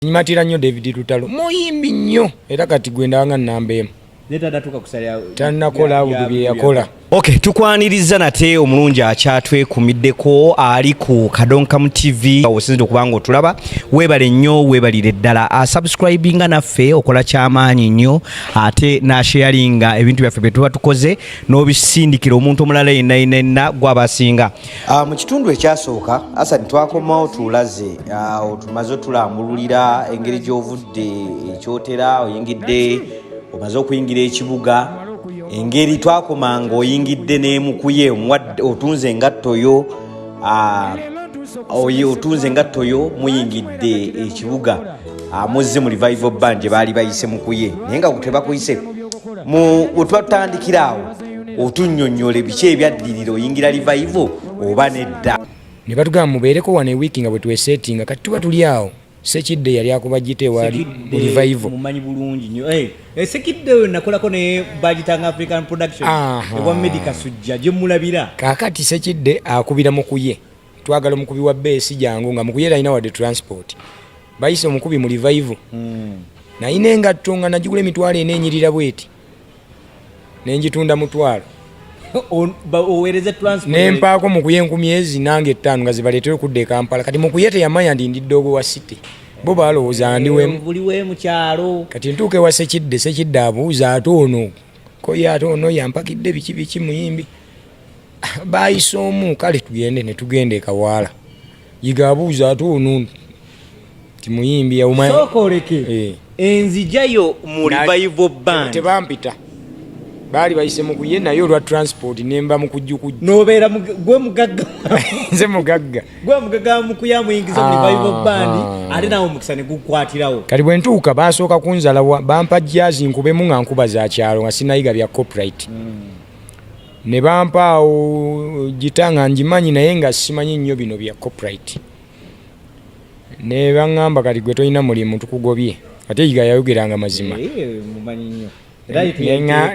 nyimatira nnyo david lutalo muyimbi nnyo era kati gwe ndabanga nnamba emu tanakola awudu bye yakola ok tukwaniriza nate omulungi akyatwekumiddeko ali ku kadonkamu tv osinzira okuba nga otulaba weebale nnyo weebalire ddala asubscribinga naffe okola kyamaanyi nnyo ate nasheyalinga ebintu byaffe bye tuba tukoze n'obisindikira omuntu omulala yenna yenna yenna gwaba asinga Ah, mu kitundu ekyasooka asad twakomawo tulaze ah, otumaze otulambululira engeri gyovudde ekyotera eh, oyingidde omaze okuyingira ekibuga engeri twakoma nga oyingidde nemukuye otunze engattoyo ah, otunze engattoyo muyingidde ekibuga muzze mu revival band gye baali bayise mukuye naye nga tebakuyise wetwatandikiraawo otunnyonnyole biki ebyaddirira oyingira livayivo oba nedda ne batugamba mubeereko wano ewiiki nga bwe tweseetinga kati tuba tuli awo sekidde yali akuba gita ewaali livayivo mumanyi bulungi nyo eh, eh, sekidde oyo nakolako ne bagitanga african production ewa medica sujja gye mulabira kaakati sekidde akubira mukuye twagala omukubi wa beesi jangu nga mukuye talina wadde transport bayise omukubi mu livayivo hmm. naye nengatto nga nagigula emitwalo ena enyirira bweti nenjitunda mutwalo nempaako mukuye enkumi ezi nange ettaano nga zibaleetere okudda ekampala kati mukuye teyamanya ndi ndi doogo wa city bo balowooza ndiwemukyalo kati ntuuka ewa sekidde sekidde abuuza ate ono koye ate ono yampakidde biki biki muyimbi bayise omu kale tugende netugenda ekawaala yiga abuuza ate ono timuyimbi yawumana sooka oleke eh. enzijayo mu revival band tebampita baali bayise mukuye naye olwa transport nemba mukujukujju nobeera gwe mugagga nze mugagga gwe mugagga mukuya muyingiza mu revival ah, band ah. ate nawe omukisa ne gukwatirawo kati bwe ntuuka basooka kunzala bampa jazi nkubemu nga nkuba za kyalo nga sinayiga bya copyright hmm. ne bampaawo gita nga ngimanyi naye nga simanyi nnyo bino bya copyright ne bangamba kati gwe tolina mulimu tukugobye ate yiga yayogeranga mazima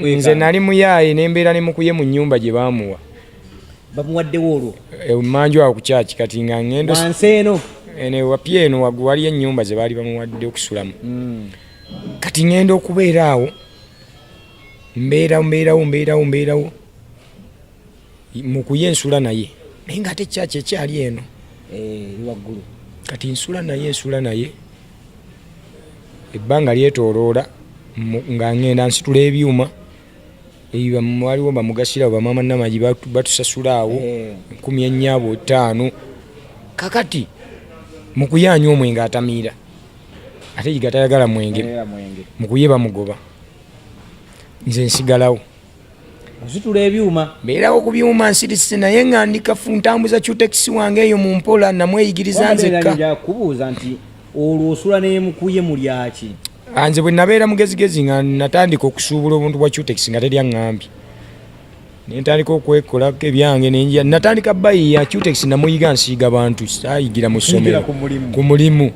nze nali muyaaye nembeera nemukuye mu nyumba gye bamuwa bamuwaddewo olwo emanju eh, awo kukyaki kati nga ngendo eno eh, wapya eno waliyo enyumba ze baali bamuwadde okusulamu hmm. kati ngenda okubeera awo mbeerawo mbeerawo mbeerawo mbeerawo mukuye nsula naye naye nga ate kyaki ekyali eno eh, waggulu kati nsula naye nsula naye ebbanga lyetoloola nga ngenda nsitula ebyuma waliwo bamugasira bamama namagi batusasula awo eh. nkumi enyabo ttaano kakati mukuyanya omwenge atamiira ate yiga tayagala mwenge mukuye bamugoba nze nsigalawo nsitula ebyuma mbeerawo ku byuma nsirise naye nga ndikafu ntambuza cutekisi wange eyo mu mpola namweyigiriza nzekka kubuuza nti olwo osula nemukuye mulyaki anze bwe nabeera mugezigezi nga natandika okusuubula obuntu bwa cutekisi nga teri aŋŋambye nentandika okwekola ebyange nenjia natandika bayi ya cutex namuyiga nsiiga bantu sayigira mu ssomero ku mulimu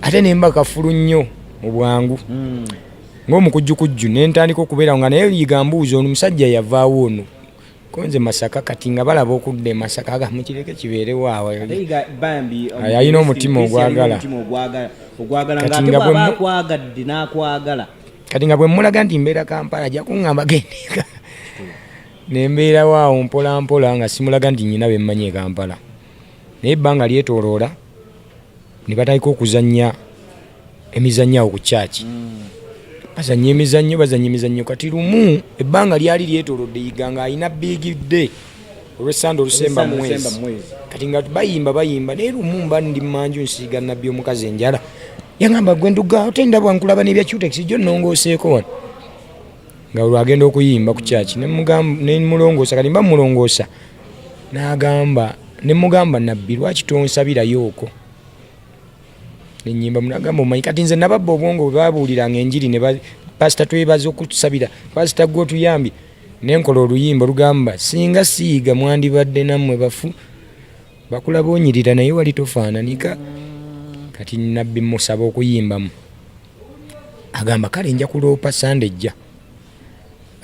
ate nemba kafulu nnyo mu bwangu hmm. ng'omukujjukujju ne ntandika okubeerawo nga naye liiga mbuuza ono musajja yavaawo ono konze masaka kati nga balaba okudda emasaka aga mukireke kibeerewo awo yalina omutima ogwagala kati nga bwe mmulaga nti mbeera kampala ajja kuŋŋamba gendeka ne mbeerawo awo mpola mpola nga simulaga nti nyina be mmanyi e kampala naye ebbanga lyetoloola ne batandika okuzannya emizannyo awo ku kyaki bazanya emizannyo bazanya emizannyo kati lumu ebbanga lyali lyetolodde yiga nga alina bigidde olwesande olusemba mwezi kati nga bayimba bayimba naye lumu mba ndi mumanju nsiiga nabbi omukazi enjala yagamba gwe nduga ote ndabwa nkulaba nebya cutex jo nongoseeko wano nga olwagenda okuyimba ku kyaki nemulongoosa kati mba mulongoosa nagamba nemugamba nabbi lwaki tonsabirayo oko enyimba munagamba omanyi kati nze nababba obwongo bwebabuuliranga enjiri ne pasita twebaza okutusabira pasita gwe otuyambye nenkola oluyimba olugamba singa siiga mwandibadde nammwe bafu bakula bonyirira naye wali tofaananika kati nabbi musaba okuyimbamu agamba kale nja kuloopa sande ejja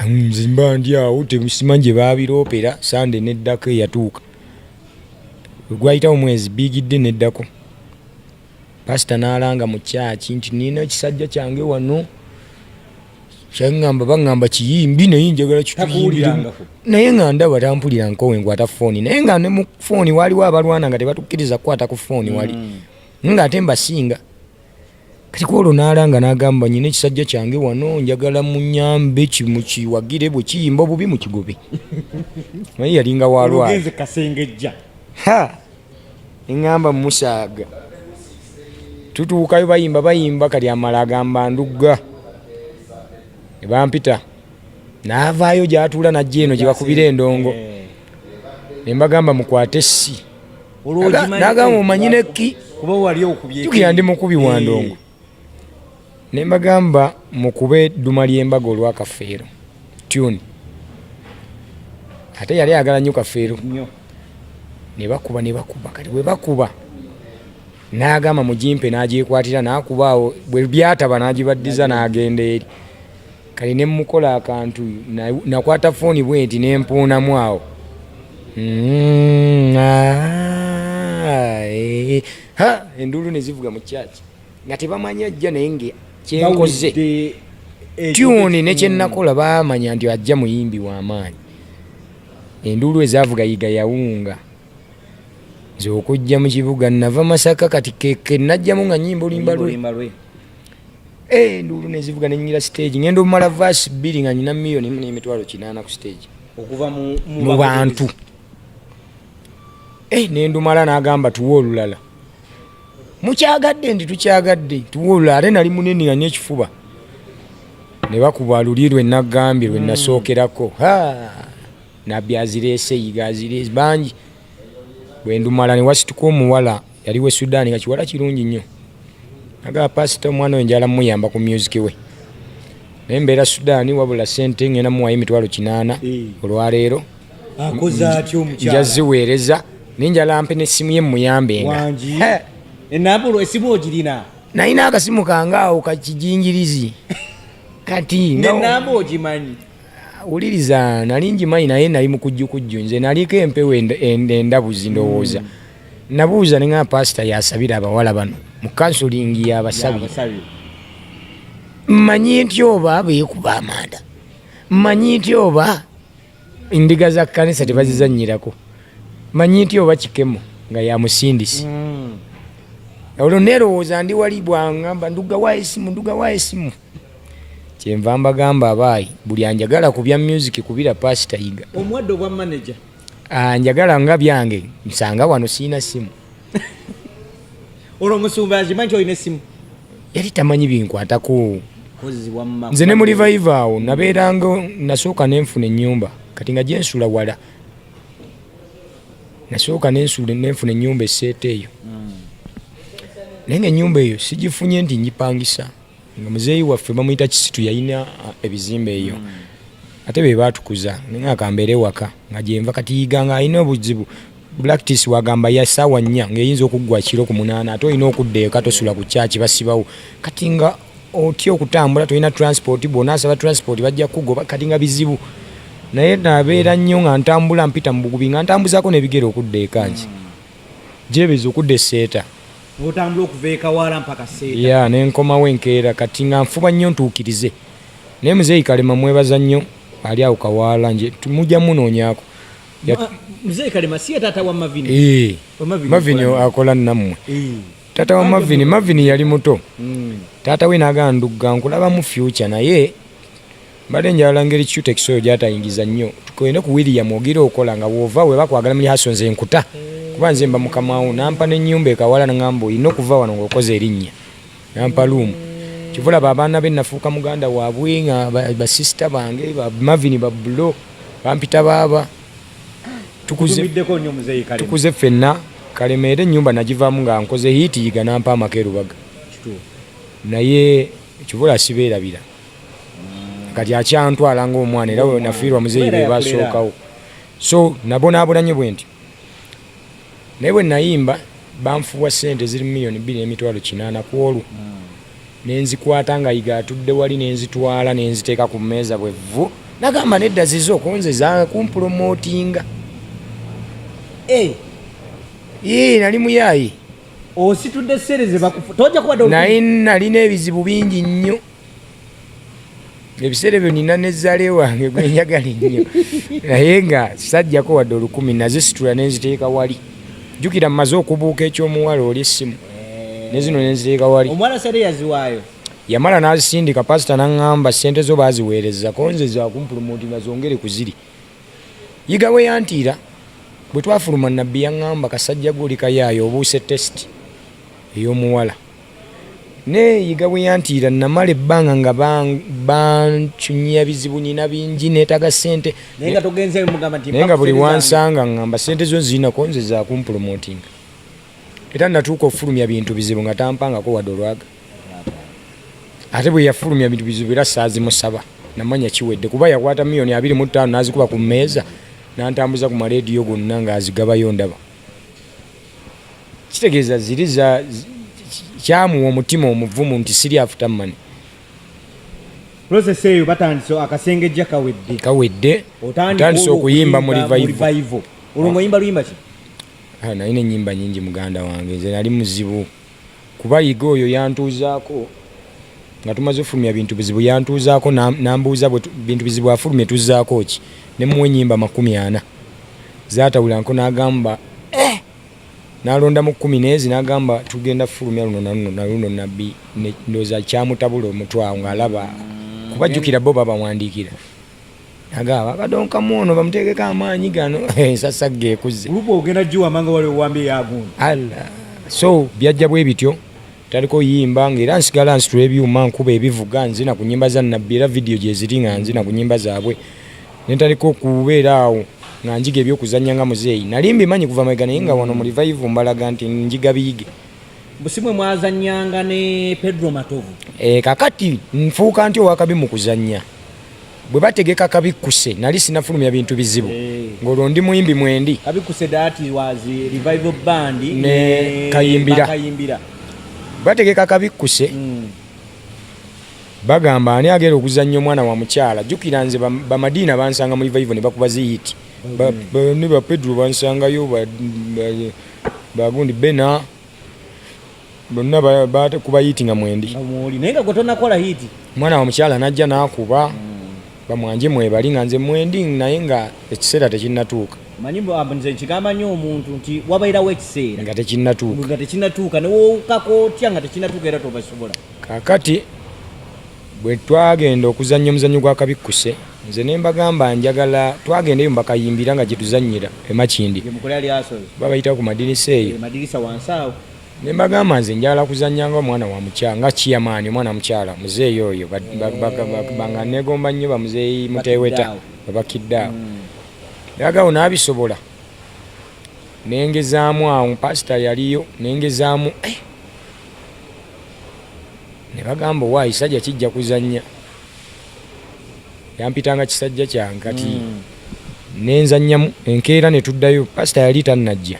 nzimba ndi awo temusimanyi gye baabiroopera sande neddako eyatuuka gwayitawo mwezi bigidde neddako pasita n'alanga mu kyaki nti nina ekisajja kyange wano kyaŋŋamba baŋŋamba kiyimbi naye njagala kituyimbiremu naye nga ndaba tampulira nkowe nkwata fooni naye nga ne mu fooni waaliwo abalwana nga tebatukkiriza kukwata ku fooni wali mm. nga ate mbasinga kati kwolwo n'alanga n'agamba nyina ekisajja kyange wano njagala munyambe kimukiwagire bwe kiyimba obubi mu kigobe naye yalinga walwala Nengamba musaaga tutuukayo bayimba bayimba kati amala agamba ndugga nebampita naavaayo gyatuula najja eno gyebakubira endongo eh. nembagamba mukwate essi nagamba omanyi nekki tukira ndi mukubi wa eh. ndongo ne mbagamba mukube edduma ly'embaga olwa kafeero tune ate yali ayagala nnyo kafeero ne bakuba ne bakuba kati bwe bakuba n'agamba mugimpe n'agyekwatira n'akuba awo bwe byataba n'agibaddiza n'agenda eri kati ne mukola akantu nakwata fooni bwe nti ne mpuunamu awo mm, ah, eh, enduulu ne zivuga mu kyaki nga tebamanyi ajja naye nga kyenkoze tyuni nekyenakola mm. bamanya nti ajja muyimbi wamaanyi enduulu ezavuga yiga yawunga nze okujja mu kibuga nava masaka kati kenajjamu nga nyimba olimba lwe eh, enduulu nezivuga nenyira stage ngenda omumala vaasi bbiri nga nyina miyoni mu nemitwalo kinaana ku stage okuva mu bantu eh, nendumala nagamba tuwa olulala mukyagadde nti tukyagadde tuwulula ate nali munene nga nekifuba ne bakuba luli lwe nagambye lwe nasookerako hmm. ha nabbi azireese yiga azireese bangi bwe ndumala ne wasituka omuwala yali we sudaani nga kiwala kirungi nnyo nagaa pasita omwana oyo njala muyamba ku myuziki we naye mbeera sudaani wabula sente ngenda muwayo emitwalo kinaana eh. olwaleero nja ziweereza naye njala mpe nessimu ye mumuyambenga enambula esimu ogirina nalina akasimu kange awo kakijingirizi kati nenamba ogimanyi wuliriza nali ngimanyi naye nali mukujjukujju nze naliko empewo endabuzi ndowooza mm. nabuuza ninga pasita yasabira abawala bano mu kansulingi yabasabi manyi nti oba beekuba amanda manyi nti oba Endiga za kkanisa tebazizannyirako manyi nti oba kikemo nga yamusindisi hmm. olwo neerowooza ndi wali bwangamba ndugawa esimu ndugawa esimu kyenva mbagamba abaayi buli anjagala ku bya music kubira paasita yiga omuwadde obwa manaja anjagala ah, nga byange nsanga wano siina simu olwo omusumba azima nti olina essimu yali tamanyi binkwatako nze ne mulivaiva awo nabeeranga nasooka nenfuna enyumba kati nga gyensula wala nasooka nenfuna enyumba eseeta eyo hmm. naye nga enyumba eyo sigifunye nti ngipangisa nga muzeeyi waffe bamuyita kisitu yalina uh, ebizimba eyo mm. ate be baatukuza naye akambeera ewaka nga gyenva kati yiga nga alina obuzibu blacktis wagamba ya saawa nnya ngaeyinza okuggwa kiro ku munaana ate olina okudda eka tosula ku kyaki basibawo kati nga otya okutambula tolina transport bwona asaba transport bajja kugoba kati nga bizibu naye nabeera nnyo nga ntambula mpita mu bugubi nga ntambuzaako nebigere okudda ekangi mm. gyebeza okudda eseeta n'otambula okuva ekawaala mpaka seeta ya nenkomawo enkeera kati nga nfuba nnyo ntuukirize naye muzeeyi kalema mwebaza nnyo ali awo kawaala nje mujja munoonyaako muzeeyi kalema si ye taata wa mavini ee mavini akola nammwe taata wa mavini mavini yali muto mm. taata we nagamba ndugga nkulabamu fyuca naye mbadde njala ngeri cutex oyo gyatayingiza nnyo tukende ku william ogira okola nga wova weba kwagala muli haso nze nkuta kuba nze mba mukamawo nampa nenyumba ekawala nangamba olina okuva wano ngaokoze erinnya nampa luumu kivulaba abaana be nafuuka muganda waabwe nga basisita bange bamavini babulo bampita baaba tukuze ffenna kalemeera enyumba nagivaamu nga nkoze hiiti yiga nampa amaka erubaga naye kivula sibeerabira kati akyantwala ngaomwana era wenafiirwa muzeeyi be basookawo so nabonaabonanye bwe nti naye bwe nayimba banfuwa sente ziri mumiliyoni bbiri n'emitwalo kinaana ku olwo hmm. nenzikwata nga yiga atudde wali nenzitwala nenziteeka ku mmeeza bwe vvu nagamba nedda zizo konze zakumpulomootinga eh. ee nali muyaayi ositudde sente zebakufu tojja kubadde naye nalina ebizibu bingi nnyo ebiseera ebyo nina nezaale wange gwenjagala ennyo naye nga sajjako wadde olukumi nazisitula nenziteeka wali jjukira mmaze okubuuka ekyomuwala oli essimu nezino nenziteeka wali omuwala sente yaziwaayo yamala nazisindika pasita naŋŋamba sente zo baziweereza konze zakumpulumuti nga zongere ku ziri yiga we yantiira bwe twafuluma nabbi yaŋŋamba kasajja gwe oli kayaayo obuuse tesiti ey'omuwala Naye yiga bwe yantiira namala ebbanga nga bancunyia bizibu nina bingi neetaga ssente naye nga buli wansanga ngamba ssente zo zirinako nze zakumpulomootinga era natuuka okufulumya bintu bizibu nga tampangako wadde olwaga ate bwe yafulumya bintu bizibu era saazimusaba namanya kiwedde kuba yakwata miliyoni abiri mu ttaano n'azikuba ku mmeeza n'antambuza ku maleediyo gonna ng'azigabayo ndaba kitegeeza ziri za kyamuwa omutima omuvumu nti siri afuta mani process eyo batandise akasengejja kawedde kawedde otandise okuyimba mu revival olwo ngoyimba luyimba ki ah, naye nenyimba nyingi muganda wange nze nali muzibu Kuba Yiga oyo yantuuzaako nga tumaze ofulumya bintu bizibu yantuuzaako nambuuza bintu bizibu afulumye tuzzaako ki ne muwa ennyimba makumi ana zaatawulanko n'agamba eh! nalondamu kkumi neezi n'agamba tugenda fulumya luno naluno naluno nabbi ndooza kyamutabula omutwe awo ng'alaba kuba jjukira bo babawandiikira agaba badonka muono bamutegeka amaanyi gano ensasa eh, geekuze luba ogenda giwamanga wali owambye yagundi alla so byajja bwe bityo taliko yimba nga era nsigala nsitula ebyuma nkuba ebivuga nzina ku nyimba za nabbi era vidiyo gyeziri nga nzina ku nyimba zaabwe nentaliko okubeera awo nga njiga ebyokuzannya nga muzeeyi nali mbimanyi kuva mabega naye nga wano mulivaivu mbalaga nti njiga biyige busimwe mwazannyanga ne pedro matovu e, kakati nfuuka nti owakabi mu kuzannya bwe bategeka kabikkuse nali sinafulumya bintu bizibu eh. ng'olwo ndi muyimbi mwendi ne kayimbira bategeka kabikkuse hmm. bagamba ani agenda okuzannya omwana wa mukyala jjukira nze bamadiina bansanga mu rivaivo ne bakuba ziyiti hmm. ne bapedro bansangayo bagundi bena bonna bakuba hiiti nga mwendi naye nga gwetonnakola hiiti omwana wa mukyala najja nakuba hmm. bamwanje mwebali nga nze mwendi naye nga ekiseera tekinnatuuka manyi nze nkigamba nnyo omuntu nti wabairawo ekiseera nga tekinnatuuka nga tekinnatuuka newowukako otya nga tekinnatuuka era tobasobola kakati bwe twagenda okuzannya omuzannyo gwa kabikkuse nze ne mbagamba njagala twagendayo mbakayimbira nga gyetuzannyira emakindi babayitawo ku madirisa eyo eh, ne mbagamba nze njagala kuzannya nga omwana wa mukyala nga kiyamaani omwana mukyala muzeeyi oyo nga negomba nnyo bamuzeeyi muteweta babakidde awo yagawo mm. n'abisobola nengezaamu awo pasita yaliyo nengezaamu eh! ne bagamba owa ekisajja kijja kuzannya yampitanga kisajja kyange kati mm. nenzannyamu enkeera ne tuddayo pasita yali tannajja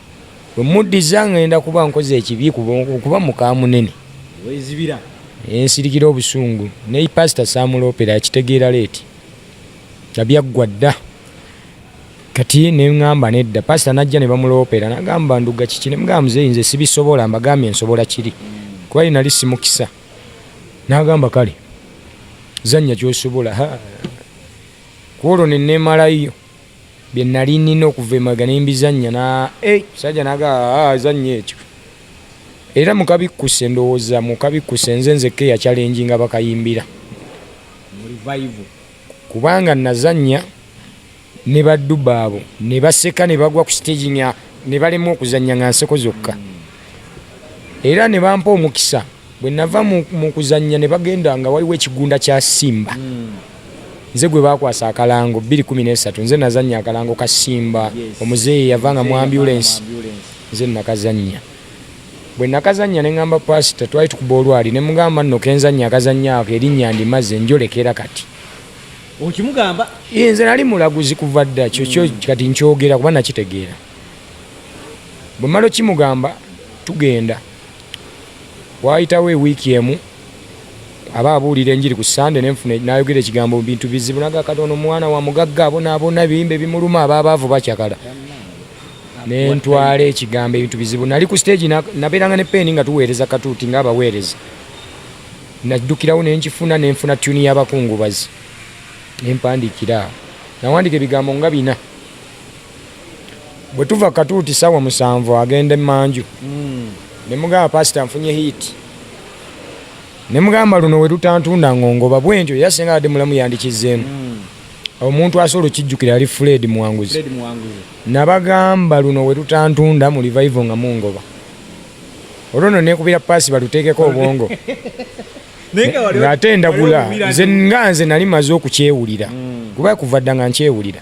bwe muddiza ngenda kuba nkoze ekibi kuba mukaamunene ensirikira obusungu ne pasita saamuloopera akitegeera leeti nga byaggwa dda kati ne ŋŋamba nedda pasita n'ajja ne bamuloopera nagamba nduga kiki ne mugamba muzeeyi nze sibisobola mbagambye nsobola kiri kuba ye nali simukisa n'agamba kale zannya kyosobola ku olwo ne neemalayo bye nnali nnina okuva emabega ne mbizannya na eh, musajja naga ah, azannya ekyo era mukabikkuse ndowooza mukabikkuse nze nzekka eyacalengi nga bakayimbira kubanga nazannya ne baddu baabo ne baseka ne bagwa ku siteegi nga ne balemwa okuzannya nga nseko zokka era ne bampa omukisa Bwe nava mu kuzannya ne bagenda nga waliwo ekigunda kya Simba hmm. nze gwe baakwasa akalango 213 nze nazannya akalango ka Simba omuzeeyi yava nga mu ambulensi nze nakazannya bwe nakazannya ne ŋamba paasita twali tukuba olwali ne mugamba nno kenzannya akazannya ako erinnya ndimaze njolekera kati okimugamba nze nali mulaguzi kuva dda kyokyo hmm. kati nkyogera kuba nakitegeera bwe mmala okimugamba tugenda Waayitawo ewiiki emu aba abuulira enjiri ku Ssande ne nfuna n'ayogera ekigambo bintu bizibu naga Katonda omwana wa mugagga abonaabona ebiyimba ebimuluma aba abaavu bacakala ne ntwala ekigambo ebintu bizibu nali ku siteegi nabeeranga ne peeni nga tuweereza katuuti nga abaweereza naddukirawo ne nkifuna ne nfuna tyuni y'abakungubazi ne mpandiikira nawandiika ebigambo nga bina bwe tuva katuuti saawa musanvu agenda emanju hmm. ne mugamba pasita nfunye hiiti ne mugamba luno we lutantunda ngongoba bwentyo era singa adde mulamu yandikizzeemu hmm. omuntu asobola okijjukira yali fred muwanguzi nabagamba luno we lutantunda mu livayivo nga mungoba olwo no nekubira paasi baluteekeko obwongo ng'ate ndagula nze nga nze nali maze okukyewulira hmm. kuba kuva dda nga nkyewulira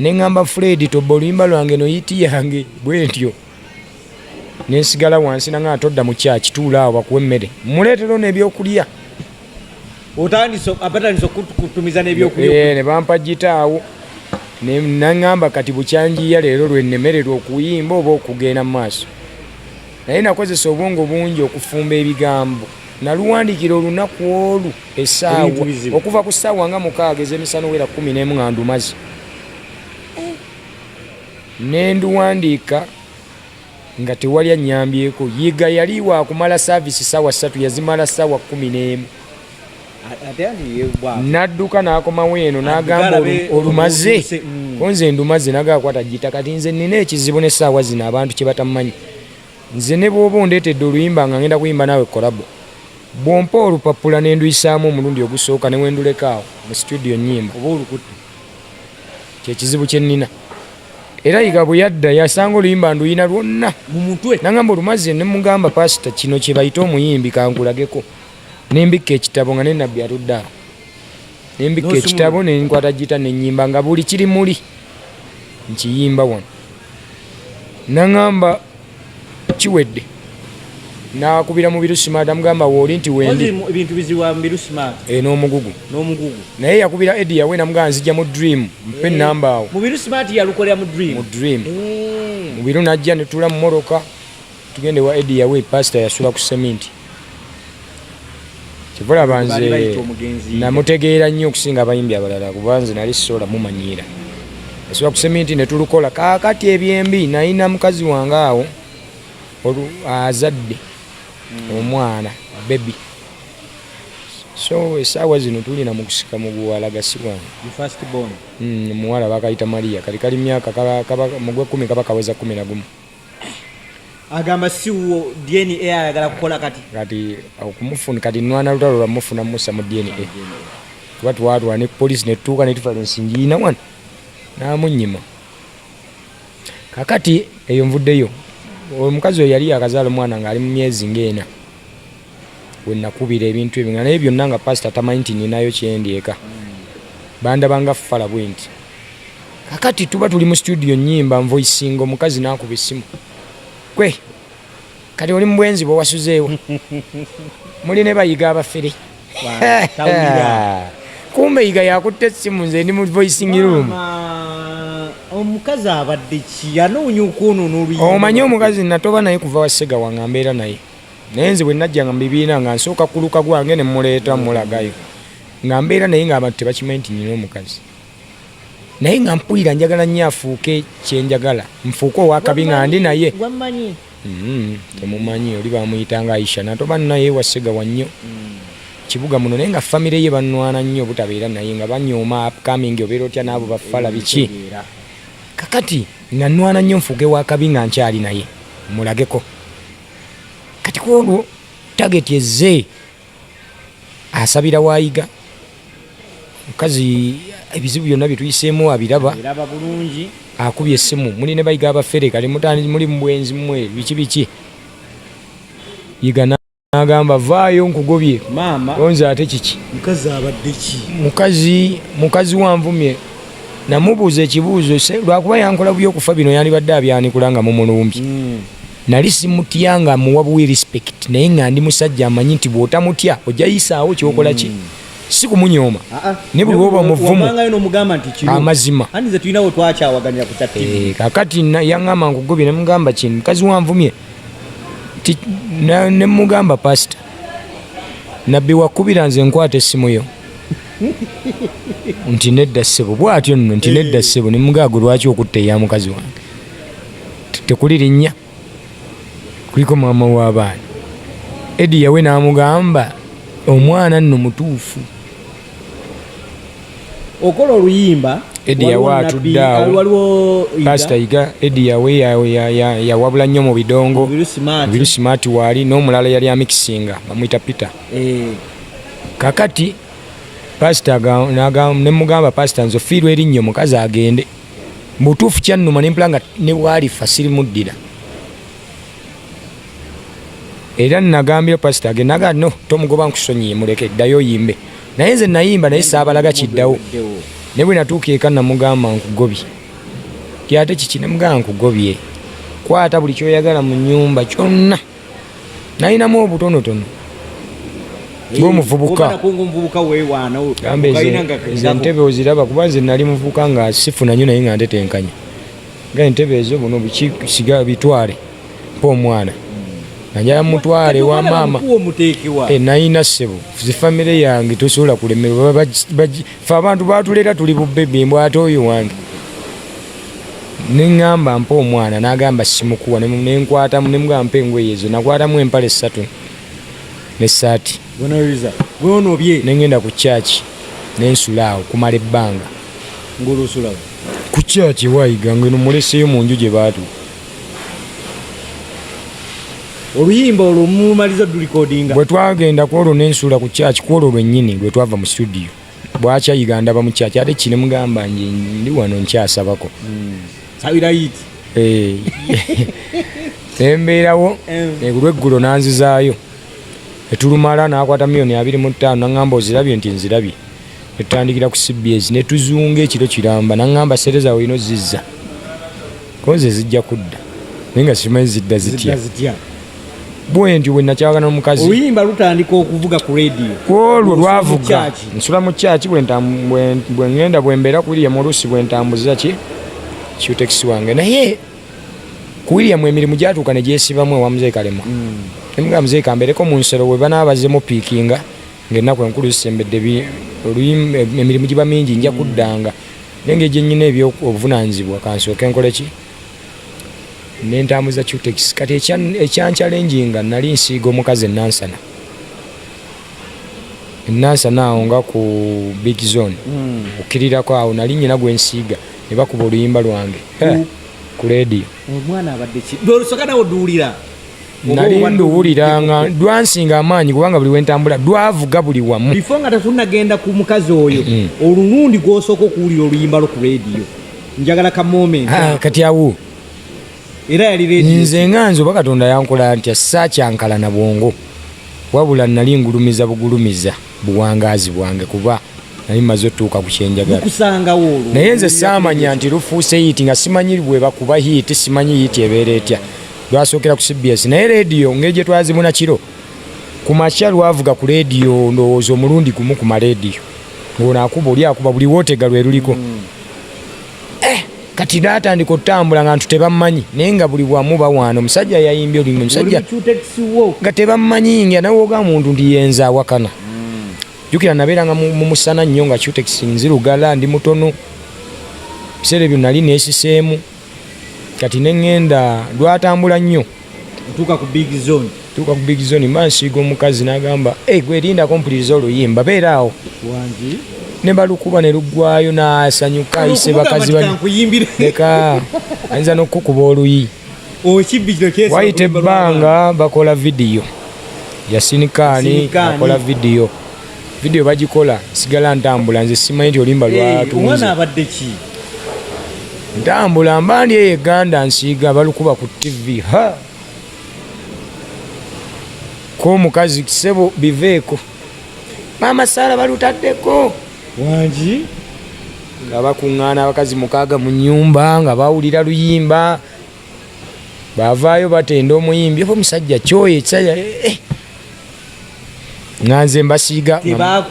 ne ŋŋamba fred tobba oluyimba lwange no yiti yange bwe ntyo ne nsigala wansi nanga nga todda mu kyaki tuula awo bakuwa emmere mmuleetera ono ebyokulya abatandise okutumiza n'ebyokulya eh, ne bampa gita awo naŋŋamba kati bukyanjiya leero lwe nnemererwa okuyimba oba okugenda mu maaso naye nakozesa obwongo bungi okufumba ebigambo naluwandiikira olunaku olwo esaawa okuva ku saawa nga mukaaga ezemisana owera kumi nemu nga ndumazi nenduwandiika nga tewali anyambyeko yiga yali wakumala saavisi saawa satu yazimala saawa kumi nemu nadduka nakomawo eno nagamba olumaze mm. konze ndumaze nagakwata gita kati nze nina ekizibu nesaawa zino abantu kyebatamanyi nze nebwoba ondetedde oluyimba nga ngenda kuyimba naawe kolabo Bw'ompa olupapula ne nduyisaamu omulundi ogusooka ne wenduleka awo mu situdiyo nnyimba oba olukutte kye kizibu kye nnina. Era Yiga bwe yadda yasanga oluyimba nduyina lwonna mu mutwe nangamba olumaze ne mugamba paasita kino kye bayita omuyimbi kankulageko ne mbikka ekitabo nga ne nabbi atudde awo ne mbikka ekitabo ne nkwata gita ne nnyimba nga buli kiri muli nkiyimba wano nangamba kiwedde nakubira mubiru smart amugamba woli nti wendi ebintu biziwa mubiru smart e n'omugugu n'omugugu naye yakubira edi yawe namugamba nzija mu dream mpe eh, namba awo mubiru smart yalukolera mu dream mu dream eh. mubiru najja netula mumoroka tugende wa edi yawe pastor yasula ku seminti kivulaba nze namutegeera nnyo okusinga abayimbi abalala kuba nze nali sisobola mumanyiira esobola kusemi nti netulukola kakati ebyembi nayina mukazi wange awo azadde hmm. omwana bebi so esaawa zino tulina mukusika muguwala gasibwa hmm, muwala bakayita maria kali kali myaka mugwe kumi kaba kaweza kumi nagumu agamba siwo DNA ayagala kukola kati kati okumufuna kati nwana lutalo lwa mufuna musa mu DNA tuba twatwa ne police ne tuuka ne tufala ensingi yina wano namunyima kakati eyo nvuddeyo omukazi oyo yali yakazaala omwana ng'ali mu myezi ng'ena we nakubira ebintu ebyo nga naye byonna nga pasita tamanyi nti ninayo kyendi eka bandaba nga fala bwe nti kakati tuba tuli mu situdiyo nyimba nvoisinga omukazi nakuba essimu kwe kati oli mu bwenzi bwewasuzeewo muli ne bayiga abafere kumbe yiga yakutte essimu nze ndi mu voisingi room omukazi abadde ki yanoonya okwonoona oluyi omanyi omukazi natoba naye kuva wasega wange ambeera naye naye nze bwe najjanga mu bibiina nga nsooka kuluka gwange ne muleeta mulagayo nga mbeera naye nga abantu tebakimanyi nti nyina omukazi naye nga mpulira njagala nnyo afuuke kyenjagala nfuuke owakabi nga ndi naye mm-hmm. temumanyi oli bamuyita nga aisha natoba naye wasegawa nnyo mm. kibuga muno naye nga famire ye banwana nnyo obutabeera naye nga banyooma upcoming obeera otya naabo bafala biki kakati nanwana nnyo nfuuke wakabi nga nkyali naye mulageko kati kwolwo tageti ezze asabira wayiga mukazi ebizibu byonna byetuyiseemu abiraba akubye essimu muli ne bayiga abafere kale muli mubwenzi mwe biki biki yigana agamba vaayo nkugobye onze ate kiki mukazi mukazi wanvumye namubuuza ekibuuzo lwakuba yankola buyokufa bino yandibadde abyanikula nga mumulumbye hmm. Nali simutya nga muwa buwi respect naye nga ndi musajja amanyi nti bwotamutya ojja yisaawo kyokola ki mm. si kumunyoma ah, ah. ne buli woba muvumu amazima eh, kakati yaŋama nkugobye nemugamba kini mukazi wanvumye nemugamba pasita nabbi wakubira nze nkwata essimu yo nti nedda ssebo bwatyo nno nti nedda ssebo nemugaago lwaki okutta eya mukazi wange tekuli linnya kuliko maama w'abaana edi yawe n'amugamba omwana nno mutuufu okola oluyimba edi yawe atudde awo pasita yiga edi yawe yawabula nnyo mu bidongo biru simaati waali n'omulala yali amikisinga bamwita peter eh. kakati pasita nemugamba pasita nze ofiirwa erinnyo mukazi agende mubutuufu kyannuma nempula nga nebwalifa sirimuddira era nagambye pasita age naga no tomugoba nkusonyiye muleke ddayo oyimbe naye nze nayimba naye saabalaga kiddawo naye bwe natuuka eka namugamba nkugobye ti ate kiki namugamba nkugobye kwata buli kyoyagala mu nyumba kyonna nalinamu obutonotono ngaomuvubukaentebe oziraba kuba nze nali muvubuka nga sifuna nyo naye nga ntetenkanya nga entebe ezo buno bikisiga bitwale mpa omwana najala mutwale wa maama eh, nalina ssebo zifamire yange tosobola kulemerwa fe abantu batuleeta tuli bubebi mbw ate oyo wange neŋamba mpa omwana nagamba simukuwa nenkwatamu nemugamba mpa engoye ezo nakwatamu empala essatu nesaati nengenda ku kyaki nensulaawo kumala ebbanga ku kyaki ewayiga ngeno muleseyo mu nju gye baatuka oluyimba olwo mumaliza dulikodinga bwe twagenda ku olwo nensuula ku kyaki ku olwo lwennyini lwe twava mu studio bwakya uganda ba mu kyaki ate kine mugamba nje ndi wano nkyasabako hmm. sabira yiti eh. embeerawo olweggulo eh. eh, nanzizaayo etulumala nakwata miyoni abiri mu ttaano naŋamba ozirabye nti nzirabye Etutandikira ku CBS ne tuzunga ekiro kiramba nangamba sere zawe ino zizza koze zijja kudda naye nga simanyi zidda zitya bwentyo bwe nakyawagana omukazi oluyimba lutandika okuvuga ku radio olwo lwavuga nsula mu kyaki bwe ngenda bwe mbeera ku william oluusi bwe ntambuza ki kiutekisi wange naye ku william emirimu gyatuuka ne gyesibamu ewa mzee kalema mm. emugamba mzee kambereko mu nsero we banaabazemu piikinga ng'ennaku enkulu zisembedde emirimu giba mingi nja kuddanga naye nga egyenyina ebyobuvunaanyizibwa kansooke nkole ki nentambuza cutex kati ekyankyalenjinga nali nsiiga omukazi enansana enansana awo nga ku big zone hmm. okkirirako awo nali nyina gwensiiga ne bakuba oluyimba lwange ku leediyo omwana abadde ki lwolusokanawo duwulira nali nduwulira nga lwansinga amaanyi kubanga buli wentambula lwavuga buli wamu bifo nga tetunagenda ku mukazi oyo mm. olulundi gwosooka okuwulira oluyimba lwo ku rediyo njagala ka moment ah, kati awo era yali rediyo nze nga nze oba katonda yankola ntya sakyankala na bwongo wabula nali ngulumiza bugulumiza buwangaazi bwange kuba nali maze otuuka ku kyenjagala naye nze saamanya nti lufuuse hiiti nga simanyi bwebakuba hiiti simanyi hiiti ebeera etya lwasookera ku cbs naye rediyo ngeri gye twazibuna kiro ku makya lwavuga ku rediyo ndowooza omulundi gumu ku marediyo ng'ono akuba oli akuba buli wootega lwe luliko mm. eh, kati natandika otambula nga ntu tebammanyi naye nga buli bwamu bawaana omusajja yayimbye olumu omusajja nga tebammanyi nga nawe oga muntu nti yenza awakana hmm. jukira nabeeranga mumusana nnyo nga cutex nzirugala ndi mutono biseera ebyo nali nesiseemu kati neŋŋenda lwatambula nnyo ntuuka ku big zone tuuka ku big zone ma nsiiga omukazi n'agamba e eh, gwerindako mpuliriza oluyimba beera awo wangi ne balukuba ne luggwayo n'asanyuka ayise bakazi baleka ayinza n'okukukuba oluyi wayita ebbanga bakola vidiyo yasinikaani akola vidiyo video bagikola sigala ntambula nze simanyi nti olimba lwatunze abadde ki ntambula mbandi eyo eganda nsiiga balukuba ku tv ha komukazi kisebo biveeko maama sara balutaddeko wangi nga bakuŋŋaana abakazi mukaaga mu nyumba nga bawulira luyimba bavaayo batenda omuyimbi oba omusajja kyoyo ekisajja eh, eh. nganze mbasiiga ah,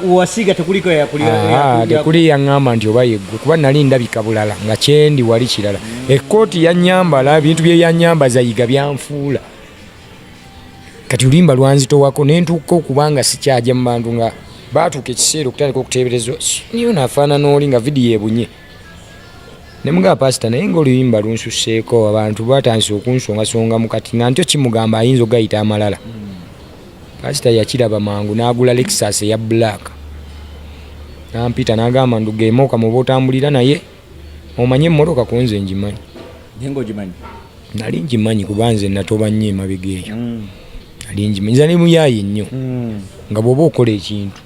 tekuli yaŋŋamba nti oba yeggwe kuba nali ndabika bulala nga kyendi wali kirala ekkooti yanyambala ebintu bye yanyamba zayiga byanfuula kati olimba lwanzitowako nentuuka okubanga sikyaja mu bantu nga baatuuka ekiseera okutandika okuteeberezwa niyo nafaanana oli nga vidiyo ebunye ne mugamba pasita naye ngaoluyimba lunsuseeko abantu batandise okunsongasonga mukati nga ntyo kimugamba ayinza okugayita amalala pasita yakiraba mangu n'agula lexas eya black nampita nagamba ndugemoka muba otambulira naye omanye emmotoka kunze ngimanyi nali ngimanyi kuba nze natoba nnyo emabega eyo mm. nali ngimanyi nza nemuyaye nnyo mm. nga bwoba okola ekintu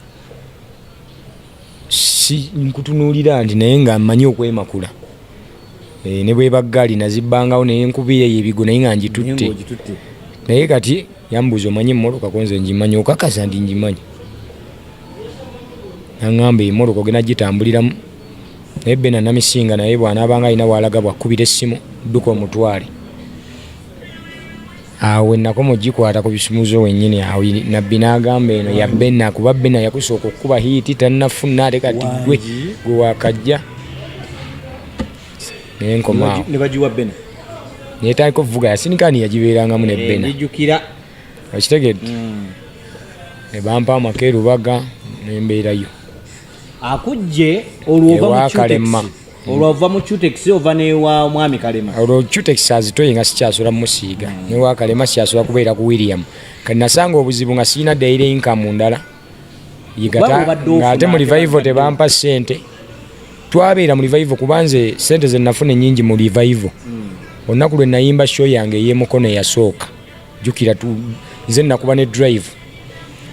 si nkutunuulira ndi naye nga mmanyi okwemakula eh, ne bwebaggaali nazibbangawo naye nkubiira eyo ebigo naye nga ngitutte naye kati yambuuza omanyi emmoloka konze ngimanyi okakasa ndi ngimanyi naŋamba emoloka ogenda gitambuliramu naye bena namisinga naye bwanaabanga alina waalaga bwakkubira essimu dduka omutwale awo wenakoma ogikwata ku bisumuzo wenyini awo nabbi n'agamba eno ya bena kuba bena yakusooka okukuba hiiti tannafuna ate kati gwe gwe wakajja naye nkomaawo naye taliko vuga yasinikani yagibeerangamu ne eh, bena okitegedde hmm. ne bampa amaka erubaga nembeerayo akujje olwovakalema olwo ova mu cutex ova newa mwami kalema olwo cutex azitoye nga sikyasula musiiga mm. newa kalema sikyasula kubeera ku william kati nasanga obuzibu nga sirina daire inkamu ndala yigata ngaate mu revival tebampa sente twabeera mu revival kuba nze sente zenafuna enyingi mu revival mm. olunaku lwe nayimba show yange eyemukono eyasooka jukira tu nze nakuba ne drive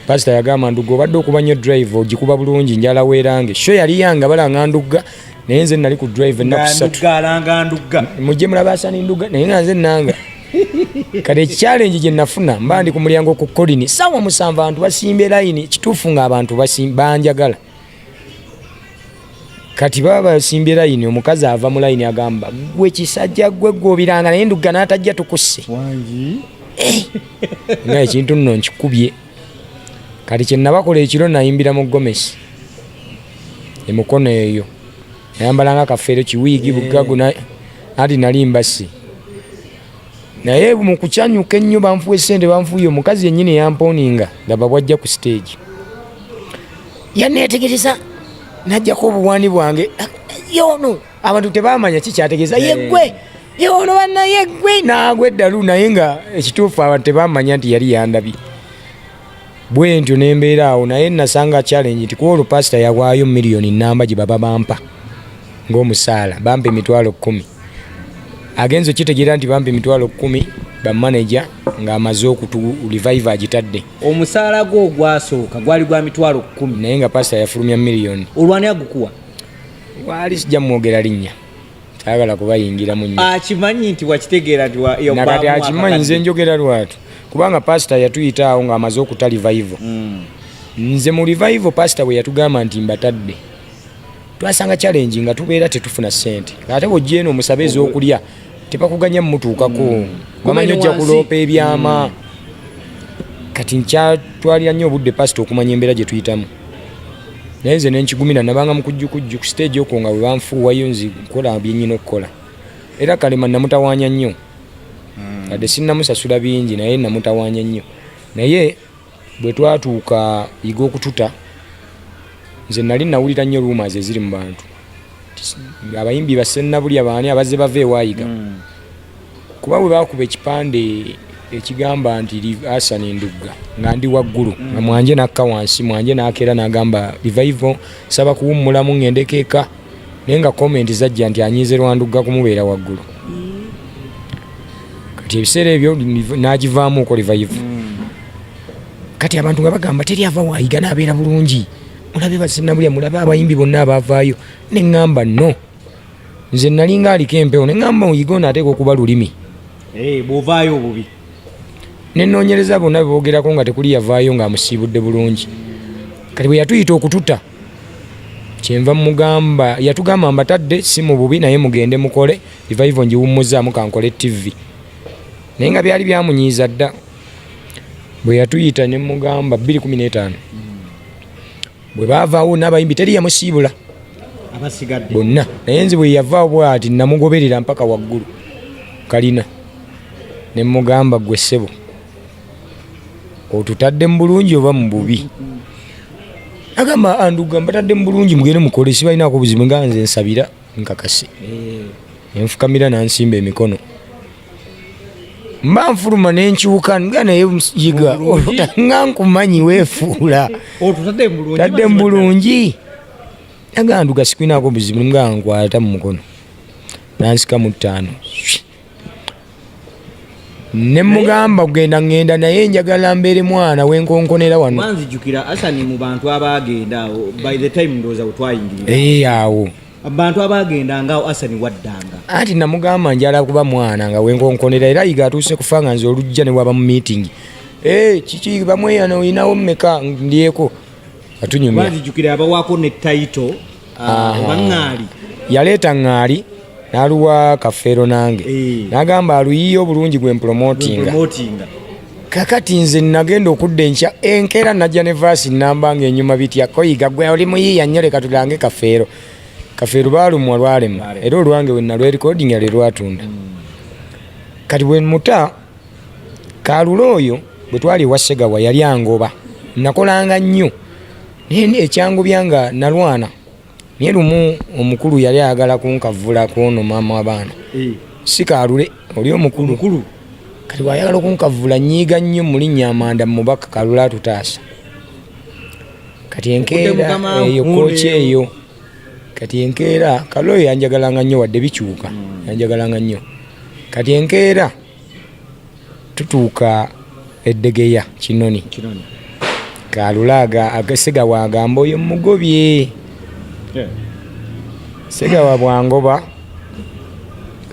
pastor yagamba nduga obadde okuba nnyo drive ogikuba bulungi njala weerange sho yali yanga balanga ndugga naye nze nali ku drive ennaku satu mujje mulaba asani nduga naye nga nze nanga kati ekikyalengi gye nafuna mba ndi ku mulyango ku kolini sawa musanvu abantu basimba elayini kituufu nga abantu banjagala kati baba basimbye layini omukazi ava mu layini agamba gwe kisajja gwe gwobiranga naye ndugga n'atajja tukusse eh! nga ekintu nno nkikubye kati kyenabakola ekiro nayimbira mu gomesi emukono eyo nayambalanga kafeero kiwiigi bugagu anti nali mbasi naye mu kukyanyuka ennyo banfuwa esente banfuuye omukazi yennyini yamponinga laba bwajja ku siteegi yanneetegereza najjako obuwaani bwange yoono abantu tebamanya kikyategeeza yeggwe yoono banna yeggwe naagwa eddalu naye nga ekituufu abantu tebamanya nti yali yandabye bwentyo nembeera awo naye nasanga challenge nti kuba olupasita yawaayo miliyoni namba gye baba bampa ngaomusaala bampa emitwalo kumi agenza okitegeera nti bampa emitwalo kumi bamanaja ngaamaze okutu revive agitadde omusaala gwo ogwasooka gwali gwa mitwalo kumi naye nga pasita yafulumya miliyoni olwani agukuwa waali sijja mwogera linnya tayagala kubayingiramu nnyo akimanyi nti wakitegeera nti nakati akimanyi nze njogera lwatu kubanga pasita yatuyita awo ng'amaze okuta livayivo mm. nze mu livayivo pasita bwe yatugamba nti mbatadde twasanga challenge nga tubeera tetufuna ssente ate bwojja eno omusaba ez'okulya tebakuganya mumutuukako mm. bamanyi ojja kuloopa ebyama mm. kati nkyatwalira nnyo obudde pasita okumanya embeera gye tuyitamu naye nze nenkigumira nabanga mukujjukujju ku siteegi okwo nga bwebanfuuwayo nzi nkola byenyina okukola era kalema namutawanya nnyo hmm. ade sinamusasula bingi naye namutawanya nnyo naye bwetwatuuka yiga okututa nze nali nawulira nnyo ruuma ze ziri mu bantu abayimbi basennabulya baani abazze bava ewayiga hmm. kuba bwe bakuba ekipande ekigamba nti asan endugga nga ndi waggulu nga hmm. mwanje nakka wansi mwanje nakeera nagamba rivaivo saba kuwummulamu ngendeko eka naye nga komenti zajja nti anyiize lwandugga kumubeera waggulu hmm. kati ebiseera ebyo nagivaamu okolivaivo kati abantu nga bagamba teri ava wayiga nabeera bulungi mulabe basinabulya mulabe abayimbi bonna abavaayo ne ŋŋamba no nze nalinga aliko empewo ne ŋŋamba oyige ono ateeka okuba lulimi eh, bwovaayo obubi nenoonyereza bonna bebogerako nga tekuli yavaayo ng'amusiibudde bulungi kati bwe yatuyita okututa kyenva mugamba yatugamba mbatadde si mu bubi naye mugende mukole ivaivo ngiwummuzaamu kankole tivi naye nga byali byamunyiiza dda bwe yatuyita ne mugamba 215 bwe baavaawo n'abayimbi teri yamusiibula bonna naye nze bwe yavaawo bwati namugoberera mpaka waggulu kalina ne mugamba gwe ssebo otutadde mu bulungi oba mu bubi agamba anduga mbatadde mu bulungi mugende mukole sibalinaako buzibu nga nze nsabira nkakasi nenfukamira nansimba emikono mba nfuluma nenkyuka nga naye yiga nga nkumanyi wefuula tadde mu bulungi naganduga sikwinaako buzibu nga nkwata mu mukono nansika mu ttaano ne mugamba kugenda ngenda naye njagala mbeere mwana wenkonkonera wano wanzijukira asani mu bantu abaagenda awo by the time ndowooza wetwayingirira ee eh, awo abantu abaagenda ngaawo asani waddanga anti namugamba njala kuba mwana nga wenkonkonera era yiga atuuse kufa nga nze olujja ne waba mu meeting ee eh, kiki bamweyana olinawo mmeka ndyeko atunyumya wanzijukira abawako ne title yaleeta ŋŋaali n'aluwa kafeero nange eh. n'agamba aluyiye obulungi gwe mpulomotinga kakati nze nagenda okudda enkya enkeera najja ne vaasi namba nga enyuma bitya koyiga gwe oli muyiiya nnyo leka tulange kafeero kafeero baalumwa lwalema era olwange wenalwerikodinga lwe lwatunda hmm. kati bwe muta kaalula oyo bwe twali ewa segawa yali angoba nakolanga nnyo naye ekyangubya nga nalwana naye lumu omukulu yali ayagala kunkavula kwono maama wabaana eh. sikalule oli omukulu kati wayagala okunkavula nyiiga nnyo mulinnya amanda mumubaka kalule atutaasa kati enkeera eyo kooki eyo kati enkeera kalule yanjagalanga nnyo wadde bikyuka hmm. yanjagalanga nnyo kati enkeera tutuuka eddegeya kinoni kalula segawa agamba oyo mugobye segawa bwangoba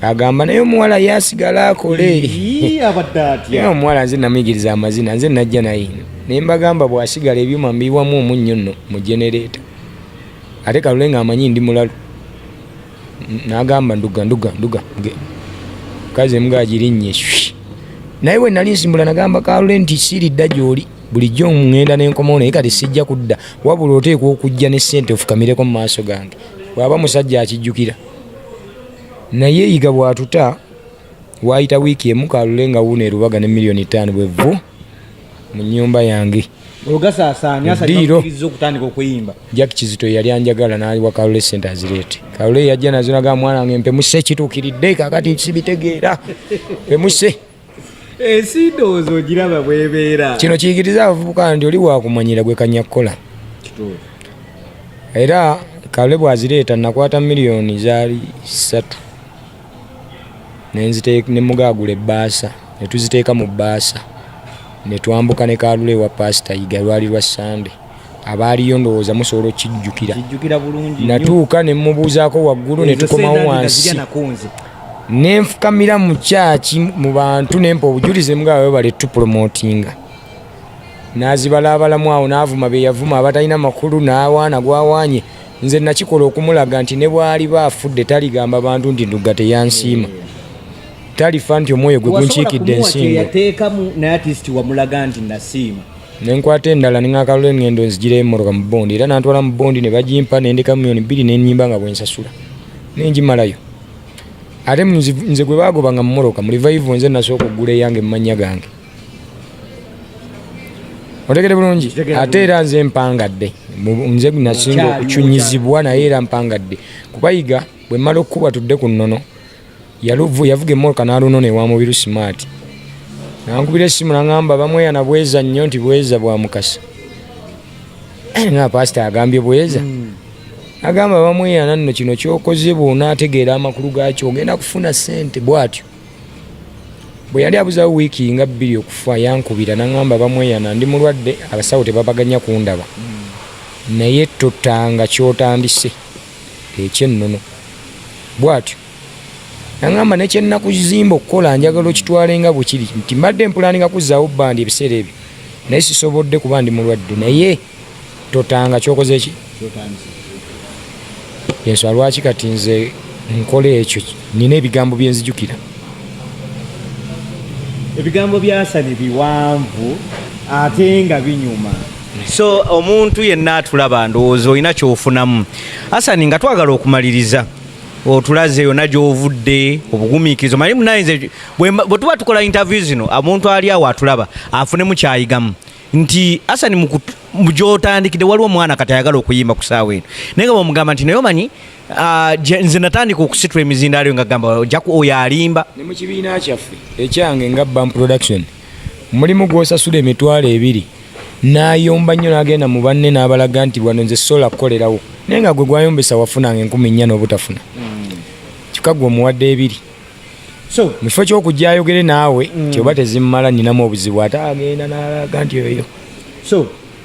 agamba naye omuwala yasigala akole omuwala nze namuyigiriza amazina nze najja naye naye mbagamba bwasigala ebyuma mbiwamu omunnyo nno mu genereeta ate kalule nga amanyi ndi mulalu nagamba nduga nduga nduga kazi embwa agirinnye naye bwe nali nsimbula nagamba kalule nti siridda gyoli bulijjo ŋŋenda nenkomawo naye kati sijja kudda wabula oteekwa okujja ne ssente ofukamireko mu maaso gange bwaba musajja akijjukira naye yiga bwatuta waayita wiiki emu kalule nga wuuno erubaga ne miliyoni ttaano bwevvu mu nnyumba yange ogasaasaanya asaakiriza okutandika okuyimba jack kizito yali anjagala naliwa kalule sente azireete kalule yajja nazo naga mwana wange mpemuse kituukiridde kakati sibitegeera mpemuse ensi eh, ndowooza ogiraba bwebeera kino kiyigiriza abavubuka nti oli wakumanyira gwe kanya kukola era kalule bwazireeta nakwata miliyoni zaali satu ne mugaagula ebbaasa ne tuziteeka mu bbaasa ne twambuka ne kaalula ewa paasita yiga lwali lwa ssande abaaliyo ndowooza musobola okukijjukira natuuka ne mmubuuzaako waggulu ne tukomawo wansi ne nfukamira mu kyaki mu bantu ne mpa obujulizi mugaba webale tupromotinga n'azibalaabalamu awo n'avuma be yavuma abatalina makulu n'awaana gw'awaanye nze nakikola okumulaga nti ne bwaliba afudde taligamba bantu nti ndugga teyansiima talifa nti omwoyo gwe gunkiikidde ensingo nenkwata endala neŋakalula eŋŋendo nzigira emmotoka mu bondi era nantwala mu bondi ne bagimpa nendeka mumiyoni bbiri nenyimba nga bwensasula nenjimalayo ate nze gwe bagoba nga mumoroka mu livayivu nze nasooka okugula eyange mumannya gange otegede bulungi ate era nze mpangadde nze nasinga okucunyizibwa naye era mpangadde kubayiga bwe mmala okukuba tudde ku nnono yaluvu yavuga emmoloka n'alunona ewa mubiru simaati nankubira essimu nangamba bamweyana bweza nnyo nti bweza bwa mukasa eh, na pasita agambye bweza hmm. agamba bamweyana nno kino kyokoze bwonaategeera amakulu gaakyo ogenda kufuna ssente bwatyo bwe yali abuzawo wiiki nga bbiri okufa yankubira naŋamba bamweyana ndi mulwadde abasawo tebabaganya kundaba naye totanga kyotandise ekyennono bwatyo naŋamba nekyenakuzimba okukola njagala okitwale nga bwekiri nti mbadde mpulaninga kuzaawo bbandi ebiseera ebyo naye sisobodde kuba ndi mulwadde naye totanga kyokoze ki yesu alwaki kati nze nkola ekyo nina ebigambo byenzijukira ebigambo byasani biwanvu ate nga binyuma so omuntu yenna atulaba ndowooza olina kyofunamu asani nga twagala okumaliriza otulaze yona gyovudde obugumikirizo manye munayinze bwetuba tukola interview zino omuntu ali awo atulaba afunemu kyayigamu nti Hassan mugyotandikidde waliwo omwana kati ayagala okuyimba ku saawa eno naye nga bamugamba nti naye omanyi ah, nze natandika okusitula emizindaalo yo nga gamba ojaku oyo alimba ne mu kibiina kyaffe ekyange nga bam production mulimu gwosasula emitwalo ebiri nayomba nnyo nagenda mu banne n'abalaga nti bwano nze sola kukolerawo naye nga gwe gwayombesa wafunanga enkumi nnya n'obutafuna hmm. kika gwe omuwadde ebiri so mu kifo ky'okujja ayogere naawe mm. nti oba tezimumala ninamu obuzibu ate agenda n'alaga nti oyo so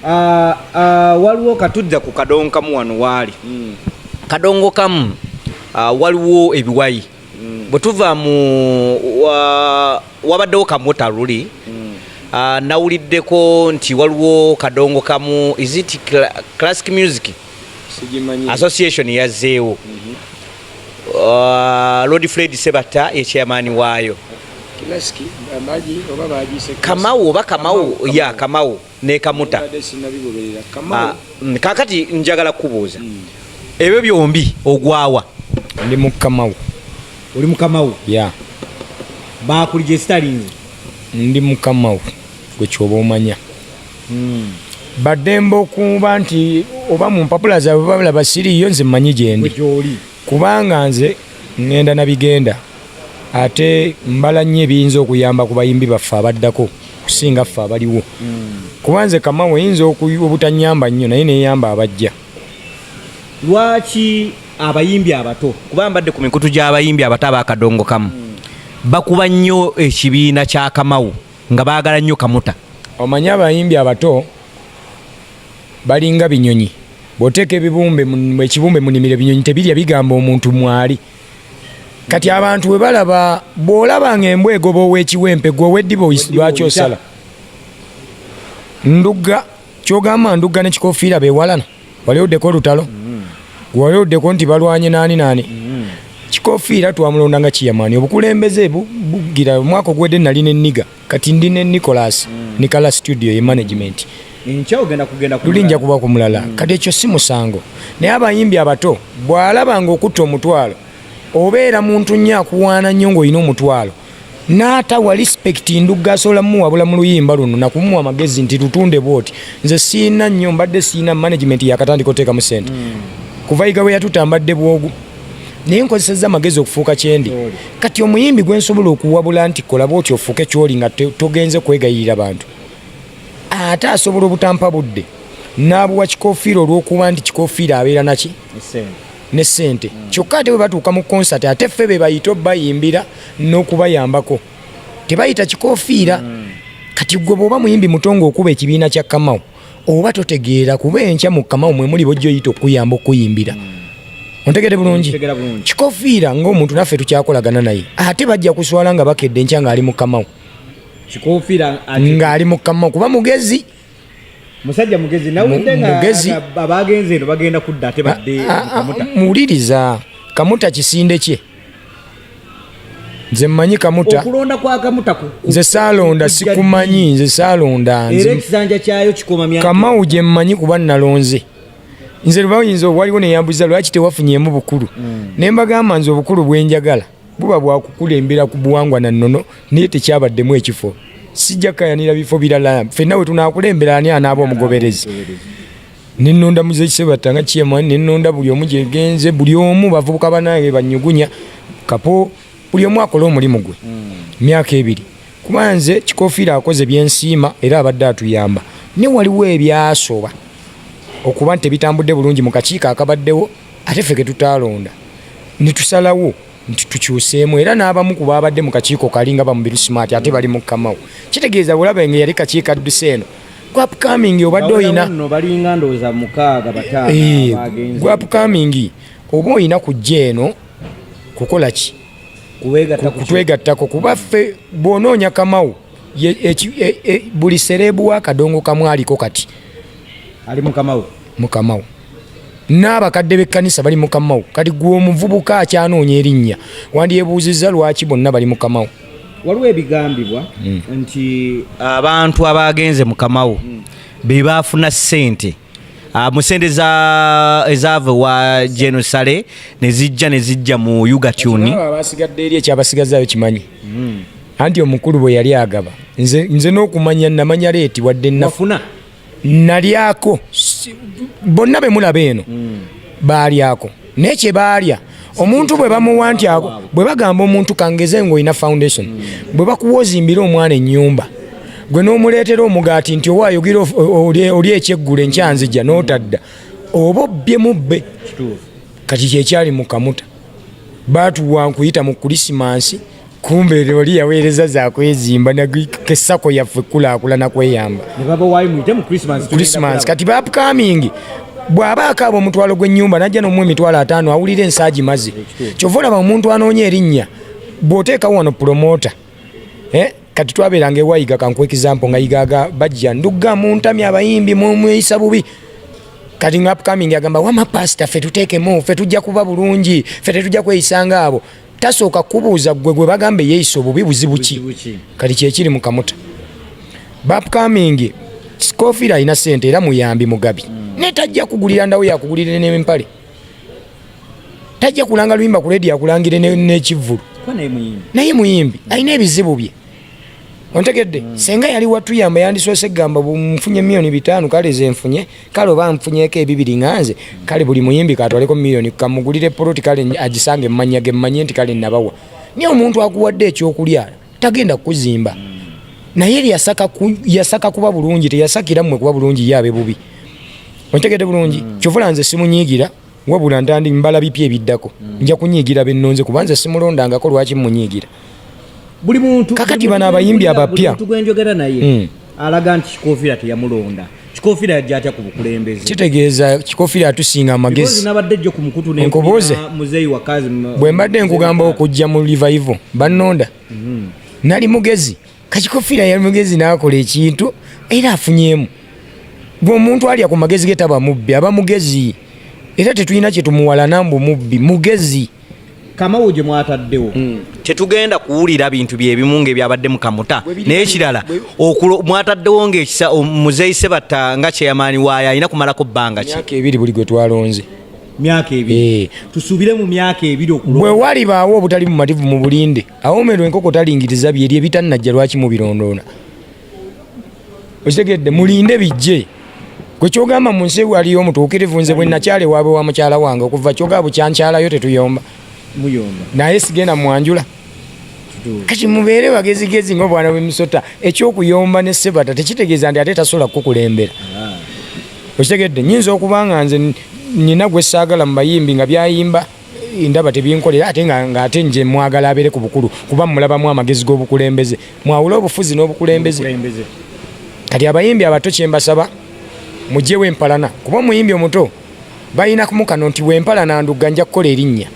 uh, uh, waliwo katudda ku kadongo kamu wano waali mm. kadongo kamu uh, waliwo ebiwayi mm. bwe tuva mu wabaddewo kamota luli nawuliddeko nti waliwo kadongo kamu is it classic music association yazzeewo mhm. uh, lord fred sebatta ye chairman waayo kamawo oba kamawo ya kamawo nekamuta ah, mm, kakati njagala kukubuuza mm. ebyo byombi ogwawa ndi mukamawo oli mukamawo ya bakulijesitalinze ndi mukamawo gwekyoba omanya bademba okuba nti oba mu mpapula zaabwe babalaba siriiyo nze mmanyi gyendi kubanga nze ŋŋenda na bigenda ate mbala nnyo ebiyinza okuyamba ku bayimbi baffe abaddako okusinga ffe abaliwo hmm. kuba nze kamawo yinza obutanyamba nnyo naye neyamba abajja lwaki abayimbi abato kuba mbadde ku mikutu gy'abayimbi abato abakadongo kamu hmm. bakuba nnyo ekibiina kya kamawo nga baagala nnyo kamuta omanyi abayimbi abato balinga binyonyi bwoteeka ebibumbe ekibumbe munimiro ebinyonyi tebirya bigamba omuntu mwali kati abantu bwe balaba bw'olaba nga embwa egoba owekiwempe gwe oweddiba lwaki osala ndugga kyogamba ndugga ne kikofiira bewalana wali oddeko olutalo mm. wali oddeko nti balwanye naani naani mm. kikofiira twamulonda nga kiyamaani obukulembeze bugira omwaka ogwedde nali ne niga kati ndi ne nicolas mm. nikala studio ye management lulinja kuba ku mulala kati ekyo si musango naye abayimbi abato bw'alaba nga okutta omutwalo obeera muntu nnyo akuwaana nnyo ng'olina omutwalo naata wa respect ndugga asobola muwabula mu luyimba luno nakumuwa amagezi nti lutunde bwoti nze siina nnyo mbadde siina management yakatandika oteekamu sente mm. kuva yiga we yatuta mbadde bwogu naye nkozesezza amagezi okufuuka kyendi kati omuyimbi gwe nsobola okuwabula nti kola bwoti ofuuke kyoli nga togenze kwegayirira bantu ate asobola obutampa budde n'abuwa kikofiira olw'okuba nti kikofiira abeera naki ne sente mm. kyokka ate bwe batuuka mu konsati ate ffe be bayita obayimbira n'okubayambako tebayita kikofiira mm. kati gwe bwoba muyimbi muto ngaokuba ekibiina kya kamau oba totegeera kuba enkya mu kamau mwe muli bojja oyita okuyamba okuyimbira mm. ontegede bulungi kikofiira ngaomuntu naffe tukyakolagana naye ate bajja kuswala nga bakedde enkya ngaali mu kamau ng'ali mu kamau kuba mugezi musajja mugezi nawulidde nga abaagenze eno bagenda kudda ate badde ah, ah, ah, muwuliriza kamuta kisinde kye nze mmanyi kamuta okulonda kwa kamuta nze saalonda sikumanyi nze saalonda era ekisanja kyayo kikoma myaka kamau gye mmanyi kuba nalonze nze lwayinza waliwo neyambuza lwaki tewafunyemu bukulu mm. ne mbagamba nze obukulu bwenjagala buba bwakukulembera ku buwangwa na nnono naye tekyabaddemu ekifo sijja kayanira bifo birala fenna we tunakulembera ani anaaba omugoberezi nenonda muzekisebatta nga kyema nenonda buli omu gyegenze buli omu bavubuka banange banyugunya kapo buli omu akole omulimu gwe hmm. myaka ebiri kuba nze kikofiira akoze byensiima era abadde atuyamba ne waliwo ebyasoba okuba nti tebitambudde bulungi mu kakiiko akabaddewo ate ffe ketutaalonda ne tusalawo nti tukyuseemu era n'abamu ku baabadde mu kakiiko kali nga bamubiru smart ate bali mu kamawo kitegeeza olaba nga yali kakiiko adduse eno gwapkamingi obadde oyina gwapkamingi oba oyina kujja eno kukola ki kutwegattako kuba ffe bw'onoonya kamawo e, e, buli sereebu wa kadongo kamwaliko kati ali mukamawo mukamawo n'abakadde b'ekkanisa bali mukamawo kati gwe omuvubuka akyanoonya erinnya wandyebuuzizza lwaki bonna bali mukamawo waliwo ebigambibwa hmm. nti abantu abaagenze mukamawo hmm. be baafuna ssente ah, mu sente ezaava ewa genosale ne zijja ne zijja mu ugatuni abasigadde eri ekyabasigazayo kimanyi hmm. anti omukulu bwe yali agaba nze n'okumanya namanya leeti wadde nafuna nalyako bonna be mulaba eno mm. baalyako naye kye baalya omuntu bwe bamuwa nti ako bwe bagamba omuntu kangeze ng'olina foundation mm. bwe bakuwa ozimbire omwana ennyumba gwe n'omuleetera omugaati nti owa ayogera oli ekyeggulo enkyanzija n'otadda oba obbye mubbe kati kyekyali mu kamuta baatuwa nkuyita mu kulisimansi kumbe oli yaweereza zakwezimba kesako yaffe kulaakulana kweyamba kati bapcoming bw'aba akaaba omutwalo gw'ennyumba najja nomu emitwalo ataano awulira ensaagi mazi kyova olaba omuntu anoonya erinnya bw'oteekawo wano pulomota eh? kati twabeeranga ewayiga kankuwa ekizampo nga yigaga bajja ndugga muntami abayimbi mumweyisa bubi kati nga upcoming agamba wama pasita fe tuteekemu fe tujja kuba bulungi fe tetujja kweyisanga abo tasooka kubuuza gwe gwe bagamba eyeyisa obubi buzibu ki kati kyekiri mu kamuta bapkamingi scofield alina sente era muyambi mugabi mm. naye tajja kugulira ndawo yakugulire nempale tajja kulanga luyimba ku ledi akulangire nekivvulu naye muyimbi alina ebizibu bye ontegedde mm. senga yali watuyamba yandisoose gamba nfunye milioni bitaano kale zenfunye kale oba nfunyeko ebibiri nganze mm. kale buli muyimbi katwaleko milioni kamugulire poloti kale agisange mumanya ge mmanye nti kale nabawa naye omuntu akuwadde ekyokulya tagenda kukuzimba mm. naye yasaka, ku, yasaka kuba bulungi teyasakira mmwe kuba bulungi ye abe bubi ontegedde bulungi mm. kyovula nze simunyiigira wabula ntandi mbala bipya ebiddako mm. nja kunyiigira bennonze kubanze simulondangako lwaki munyiigira buli muntu kakati bana abayimbi abapya tugwenjogera naye mm. alaga nti kikofira teyamulonda kikofira yajja atya ku bukulembeze kitegeeza kikofira atusinga amagezi nabadde jjo ku mukutu nkubuuze muzeeyi wakazi bwe mbadde nkugamba okujja mu livayivo bannonda mm -hmm. nali mugezi kakikofiira yali mugezi n'akola ekintu era afunyemu gwe omuntu alya ku magezi ge taba mubbi aba mugezi era tetulina kyetumuwalana mbu mubbi mugezi kamawo gye mwataddewo hmm. tetugenda kuwulira bintu byebimu ngaebyabadde mukamuta naye kirala mwataddewo ngaekisa muzeyi sebatta nga kyeyamaani waayo alina kumalako bbanga ki ebiri buli gwe twalonze myaka ebiri eh. tusuubire mu myaka ebiri okulwa bwe walibaawo obutali bumativu mu bulinde awomerwa enkoko talingiriza byeri ebitannajja lwaki mubirondoona okitegedde mulinde bijje gwe kyogamba mu nsi waliyo omutuukirivu nze bwe nakyale waabwe wa mukyala wange okuva kyoga bukyankyalayo tetuyomba naye sigenda mwanjula kati mubeere bagezigezi nga obwana bwemisota ekyokuyomba ne sebata tekitegeeza nti ate tasobola kukukulembera ah. okitegedde nyinza okuba nga nze nina gwe saagala mu bayimbi nga byayimba ndaba tebinkolera ate nga ate nje mwagala abere ku bukulu kuba mulabamu amagezi g'obukulembeze mwawula obufuzi n'obukulembeze kati abayimbi abato kyembasaba mugyewo empalana kuba omuyimbi omuto balina kumukano nti wempalana ndugga nja kukola erinnya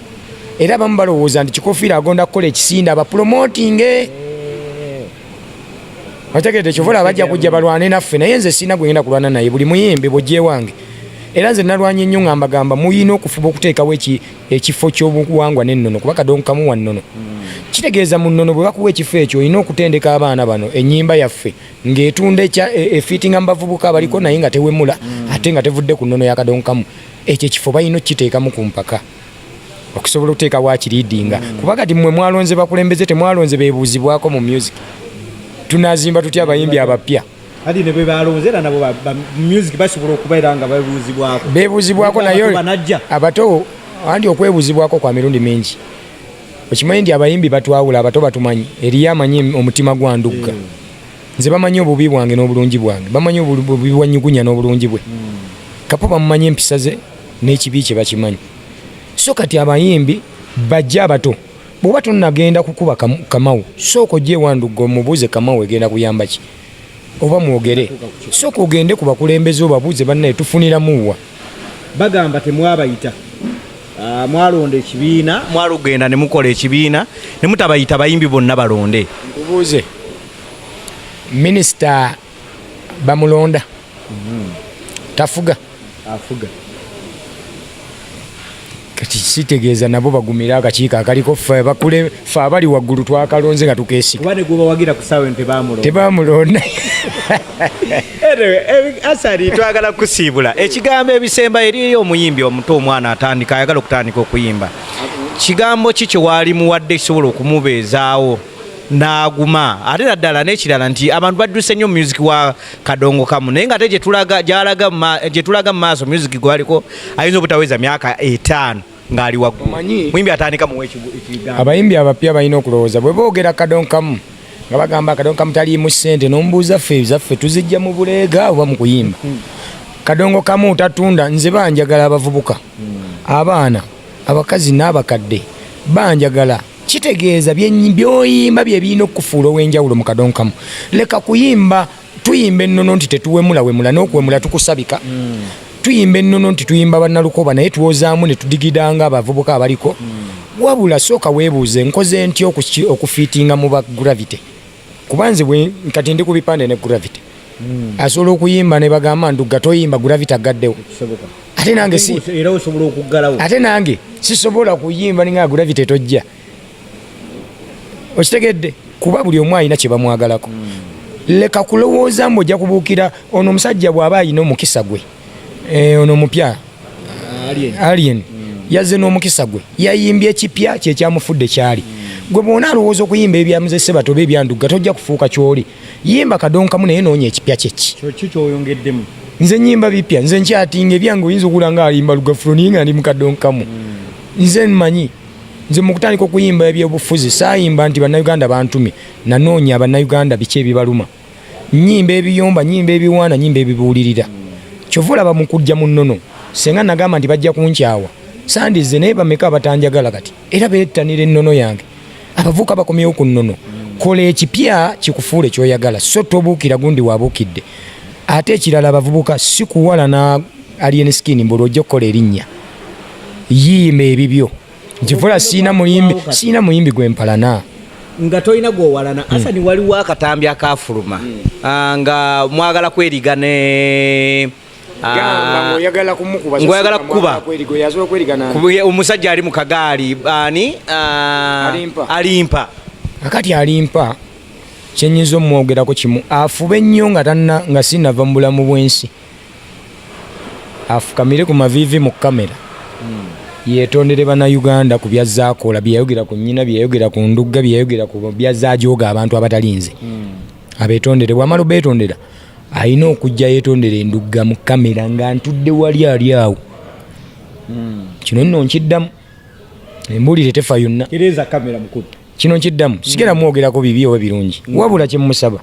era bamu balowooza nti kikofiira agonda kukola ekisinda abapulomotinge otegedde kyova olaba bajja kujja balwane naffe naye nze sirina gwegenda kulwana naye buli muyimbi bwogyewange era nze nalwanye nnyo nga mbagamba muyina okufuba okuteekawo ekifo kyobuwangwa nennono kuba kadongo kamu wa nnono kitegeeza mu nnono bwe bakuwa ekifo ekyo olina okutendeka abaana bano ennyimba yaffe ng'etunda e, efiitinga mu bavubuka abaliko naye nga tewemula ate nga tevudde ku nnono ya kadongo kamu ekyo ekifo balina okukiteekamu ku mpaka okusobola okuteeka wakiriidinga mm. kuba kati mwe mwalonze bakulembeze temwalonze bebuuzibwako mu music tunazimba tutya abayimbi abapya kati ne bwebalonze era nabo music basobola okubeera nga babuuzibwako bebuuzibwako naye abato andi okwebuzibwako kwa mirundi mingi okimanyi nti abayimbi batwawula abato batumanyi eriyo amanyi omutima gwa ndugga mm. nze bamanyi obubi bwange n'obulungi bwange bamanyi obubi bwanyugunya n'obulungi bwe mm. kapo bamumanyi empisa ze n'ekibi kye bakimanyi so kati abayimbi bajja abato bwoba tonagenda kukuba kamawu sooka ojja ewandugga omubuuze kamawu egenda kuyamba ki oba mwogere sooka ogende ku bakulembeze obabuuze bannaye tufuniramuwa bagamba temwabayita ah, mwalonda ekibiina mwalugenda ne mukola ekibiina ne mutabayita bayimbi bonna balonde nkubuuze minisita bamulonda mm-hmm. tafuga afuga kati kitegeeza nabo bagumira akakiiko akaliko fe bakule fe abali waggulu twakalonze nga tukeesikatebamulonda asali twagala kusiibula ekigambo ebisemba eriyo omuyimbi omuto omwana atandika ayagala okutandika okuyimba kigambo ki kyewaali muwadde kisobola okumubeezaawo n'aguma ate naddala n'ekirala nti abantu badduse nnyo music wa kadongo kamu naye nga ate gyetulaga mu maaso music gwaliko ayinza obutaweza myaka etaano ngali waggulu muyimbi atandika muwa ekigambo abayimbi abapya balina okulowooza bwe boogera kadongo kamu nga bagamba kadongo kamu taliimu ssente n'omubuuza ffe zaffe tuzijja mu buleega oba mu kuyimba hmm. kadongo kamu tatunda nze banjagala abavubuka hmm. abaana abakazi n'abakadde banjagala kitegeeza byoyimba bye birina okukufuula ow'enjawulo mu kadongo kamu leka kuyimba tuyimba ennono nti tetuwemulawemula n'okuwemula tukusabika mm. tuyimba ennono nti tuyimba bannalukoba naye twozaamu ne tudigidanga abavubuka abaliko mm. wabula sooka weebuuze nkoze ntya okufiitinga mu ba gravity kuba nze kati ndi ku bipande ne gravity hmm. asobola okuyimba ne bagamba ndugga toyimba gravity agaddewo ate nange si era osobola okuggalawo ate nange sisobola kuyimba ninga gravity tojja okitegedde kuba buli omu alina kye bamwagalako hmm. leka kulowooza mbu ojja kubuukira ono omusajja bw'aba alina omukisa gwe Eh, ono omupya alien mm. yazze n'omukisa gwe yayimbye ekipya kyekyamufudde kyali mm. gwe bwona alowooza okuyimba ebyamuzese bato oba ebyandugga tojja kufuuka kyoli yimba kadonkamu naye noonya ekipya kyeki nze nyimba bipya nze nkyatinga ebyange oyinza okula nga alimba lugafuro naye nga ndi mukadonkamu mm. nze mmanyi nze mukutandika okuyimba ebyobufuzi saayimba nti bannayuganda bantume nanoonya bannayuganda biki ebibaluma nyimba ebiyomba nyimba ebiwaana nyimba ebibuulirira kyova olaba mu kujja mu nnono senga nagamba nti bajja kunkyawa sandize naye bameka abatanjagala kati era beettanira ennono yange abavuuka bakomyewo ku nnono kola ekipya kikufuula ekyoyagala so tobuukira gundi wabuukidde ate ekirala abavubuka sikuwalana alien skin mbuli ojja okukola erinnya yiima ebibyo nkivula siina muyimbi siina muyimbi gwempalana nga tolina gwowalana hmm. asani waliwo akatambi akafuluma hmm. ah, nga mwagala kweriga ne ah, ngoyagala kukuba omusajja ali mu kagaali ani ah, alimpa akati alimpa kyenyinza omwogerako kimu afube nnyo nga tanna nga sinava mu bulamu bwensi afukamire ku maviivi mu kamera hmm. yetondere bannayuganda ku byazzaakoola byeyayogera ku nnyina byeyayogera ku ndugga byeyayogera ku byazzajooga abantu abatalinze hmm. abetondere bwamala obeetondera alina okujja yetondera endugga mu kamera nga ntudde wali ali awo hmm. kino nno nkiddamu embuulire tefa yonna kino nkiddamu sigera mwogerako bibi oba birungi wabula kyemusaba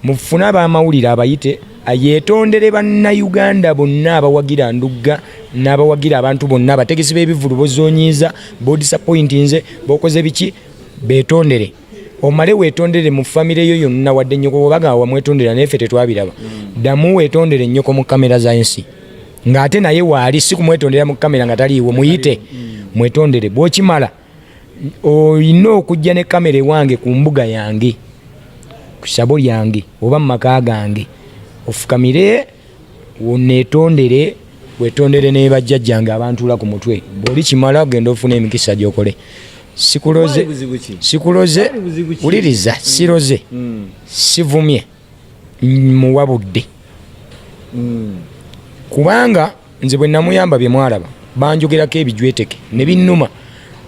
Mufune abamawulire abayite yetondere bannayuganda bonna abawagira ndugga n'abawagira abantu bonna abategesi b'ebivulu bozonyiiza bodisappointinze bokoze biki betondere omale wetondere mu famire yo yonna wadde nnyoko bwebaga wamwetondera naye ffe tetwabiraba mm. ddamu wetondere nnyoko mu kamera za ensi ng'ate naye waali si kumwetondera mu kamera nga taliiwo muyite mm. mwetondere bwokimala olina okujja ne kamera ewange ku mbuga yange ku sabo lyange oba mu maka gange ofukamire wonetondere wetondere ne bajjajjange abantula ku mutwe bwoli kimala ogenda ofuna emikisa gyokole sikuloze sikuloze wuliriza mm. siroze mm. sivumye muwabudde mm. kubanga nze bwe namuyamba bye mwalaba banjogerako ebijweteke ne binnuma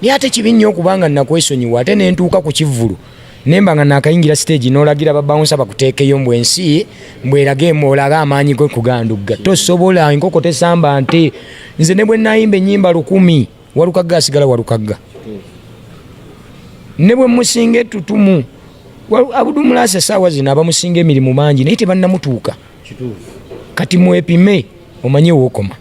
naye ate kibi nnyo okubanga nakwesonyiwa ate ne ntuuka ku kivvulu nemba nga nakayingira siteegi n'olagira babawunsa bakuteekeyo mbu ensi mbweraga emu olaga amaanyi ge kugandugga tosobola enkoko tesamba nte nze ne bwe nayimba ennyimba lukumi walukagga asigala walukagga ne bwe musinga ettutumu abudumulaasi esaawa zino abamusinga emirimu mangi naye tebannamutuuka kati mwepime omanye wokoma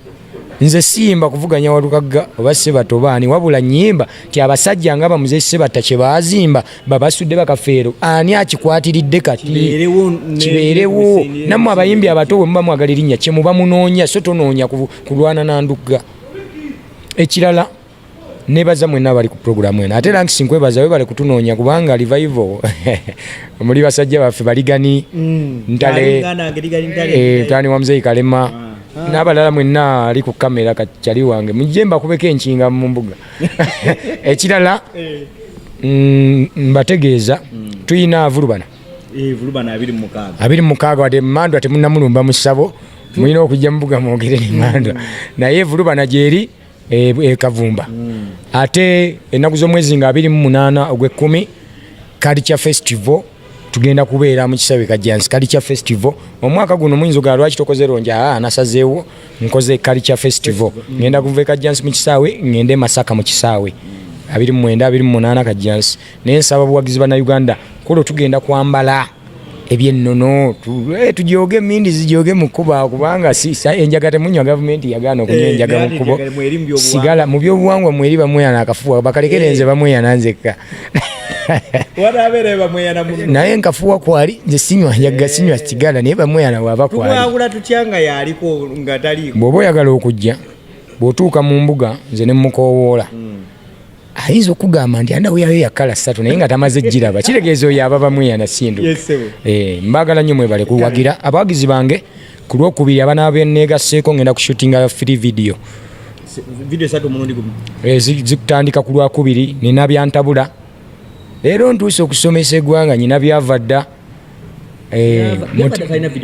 nze siyimba kuvuganya walukagga oba sebata obaani wabula nyimba ti abasajja nga bamuze sebata kyebazimba babasudde bakafeero ani akikwatiridde kati kibeerewo namwe abayimbi abato bwe muba mwagala erinnya kyemuba munoonya so tonoonya kulwana nandugga ekirala nebaza mwena abali ku program eno ate ranks nkwebaza webale kutunoonya kubanga revival muli basajja baffe baligani mm. ntale eh, mutani wa mzeyi kalema ah. Ah. nabalala mwena ali ku kamera kacali wange mujje mbakubeko enkinga mu mbuga ekirala eh. mm, mbategeeza mm. tuyina avulubana eh, abiri mukaaga wade mandwa temunamulumba mu ssabo mulina okujja mubuga mwogere nemandwa naye evulubana gyeri e, e kavumba mm. ate ennaku z'omwezi nga abiri mu munaana ogw'ekkumi culture festival tugenda kubeera mu kisawe kajjansi culture festival omwaka guno muyinza ogala lwaki tokoze longi aa ah, nasazeewo nkoze culture festival mm. ngenda kuva e kajjansi mu kisaawe ngende masaka mu kisaawe abiri mu mwenda abiri mu munaana kajjansi naye nsaba obuwagizi bannayuganda kuba tugenda kwambala ebyennono eh, tujooge emindi zijooge mu kkuba kubanga enjaga temunywa gavumenti yagaana okunywa eh, enjaga mu kkubo sigala mu byobuwangwa mweri bamweyana akafuwa bakalekere eh. nze bamweyana nzekka naye nkafuwa kwali nze sinywa njaga sinywa sigala naye bamweyana waba kwalibwoba oyagala okujja bwotuuka mu mbuga nze nemukowoola mm. ayinza okugamba nti anda weyayo yakala satu naye nga tamaze giraba kitegeeza oyo ababa mweyana sindu eh, mbagala nnyo mwebale kuwagira abawagizi bange ku lwokubiri abana beneegaseeko ngenda kushutinga free video eh, zikutandika ku lwakubiri nina byantabula leero ntuuse okusomesa egwanga nyina byava dda Eh,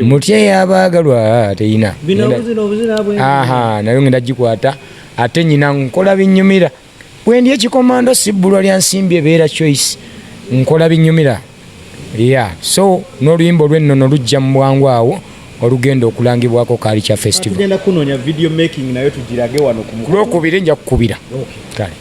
mutya yabagalwa teyina nayo ngenda gikwata ate nyina nkola binyumira Bwendi ekikomando sibbulwa lya nsimbi ebeera choice nkola binyumira yeah. so n'oluyimba olw'ennono lujja mu bwangu awo olugenda okulangibwako kaali kya festivalkulwokubiri nja kukubira kale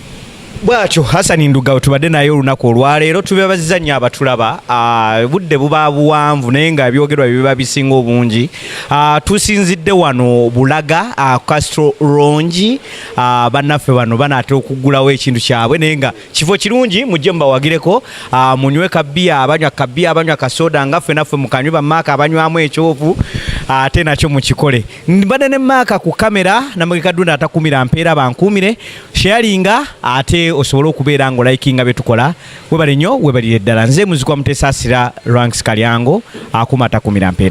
bwatyo hasani ndugawe tubadde naye olunaku olwaleero tubebaziza nnyo abatulaba ah, budde buba buwanvu naye nga ebyogerwa biba bisinga obungi ah, tusinzidde wano bulaga ah, castro rongi Ah, bannaffe bano banaatera okuggulawo ekintu kyabwe naye nga kifo kirungi mujje mubawagireko ah, munywe kabbiya abanywa kabbiya abanywa kasooda nga ffe naffe mukanywe bamaaka abanywamu ekyovu ah, ate nakyo mukikole mbadde ne maaka ku kamera namugekadunda atakumira mpeera bankuumire sheyalinga ate osobole okubeera nga olayikinga bye tukola webale nnyo webalire ddala nze muzikwa mutesaasira ranks kalyango akuuma atakumira mpeera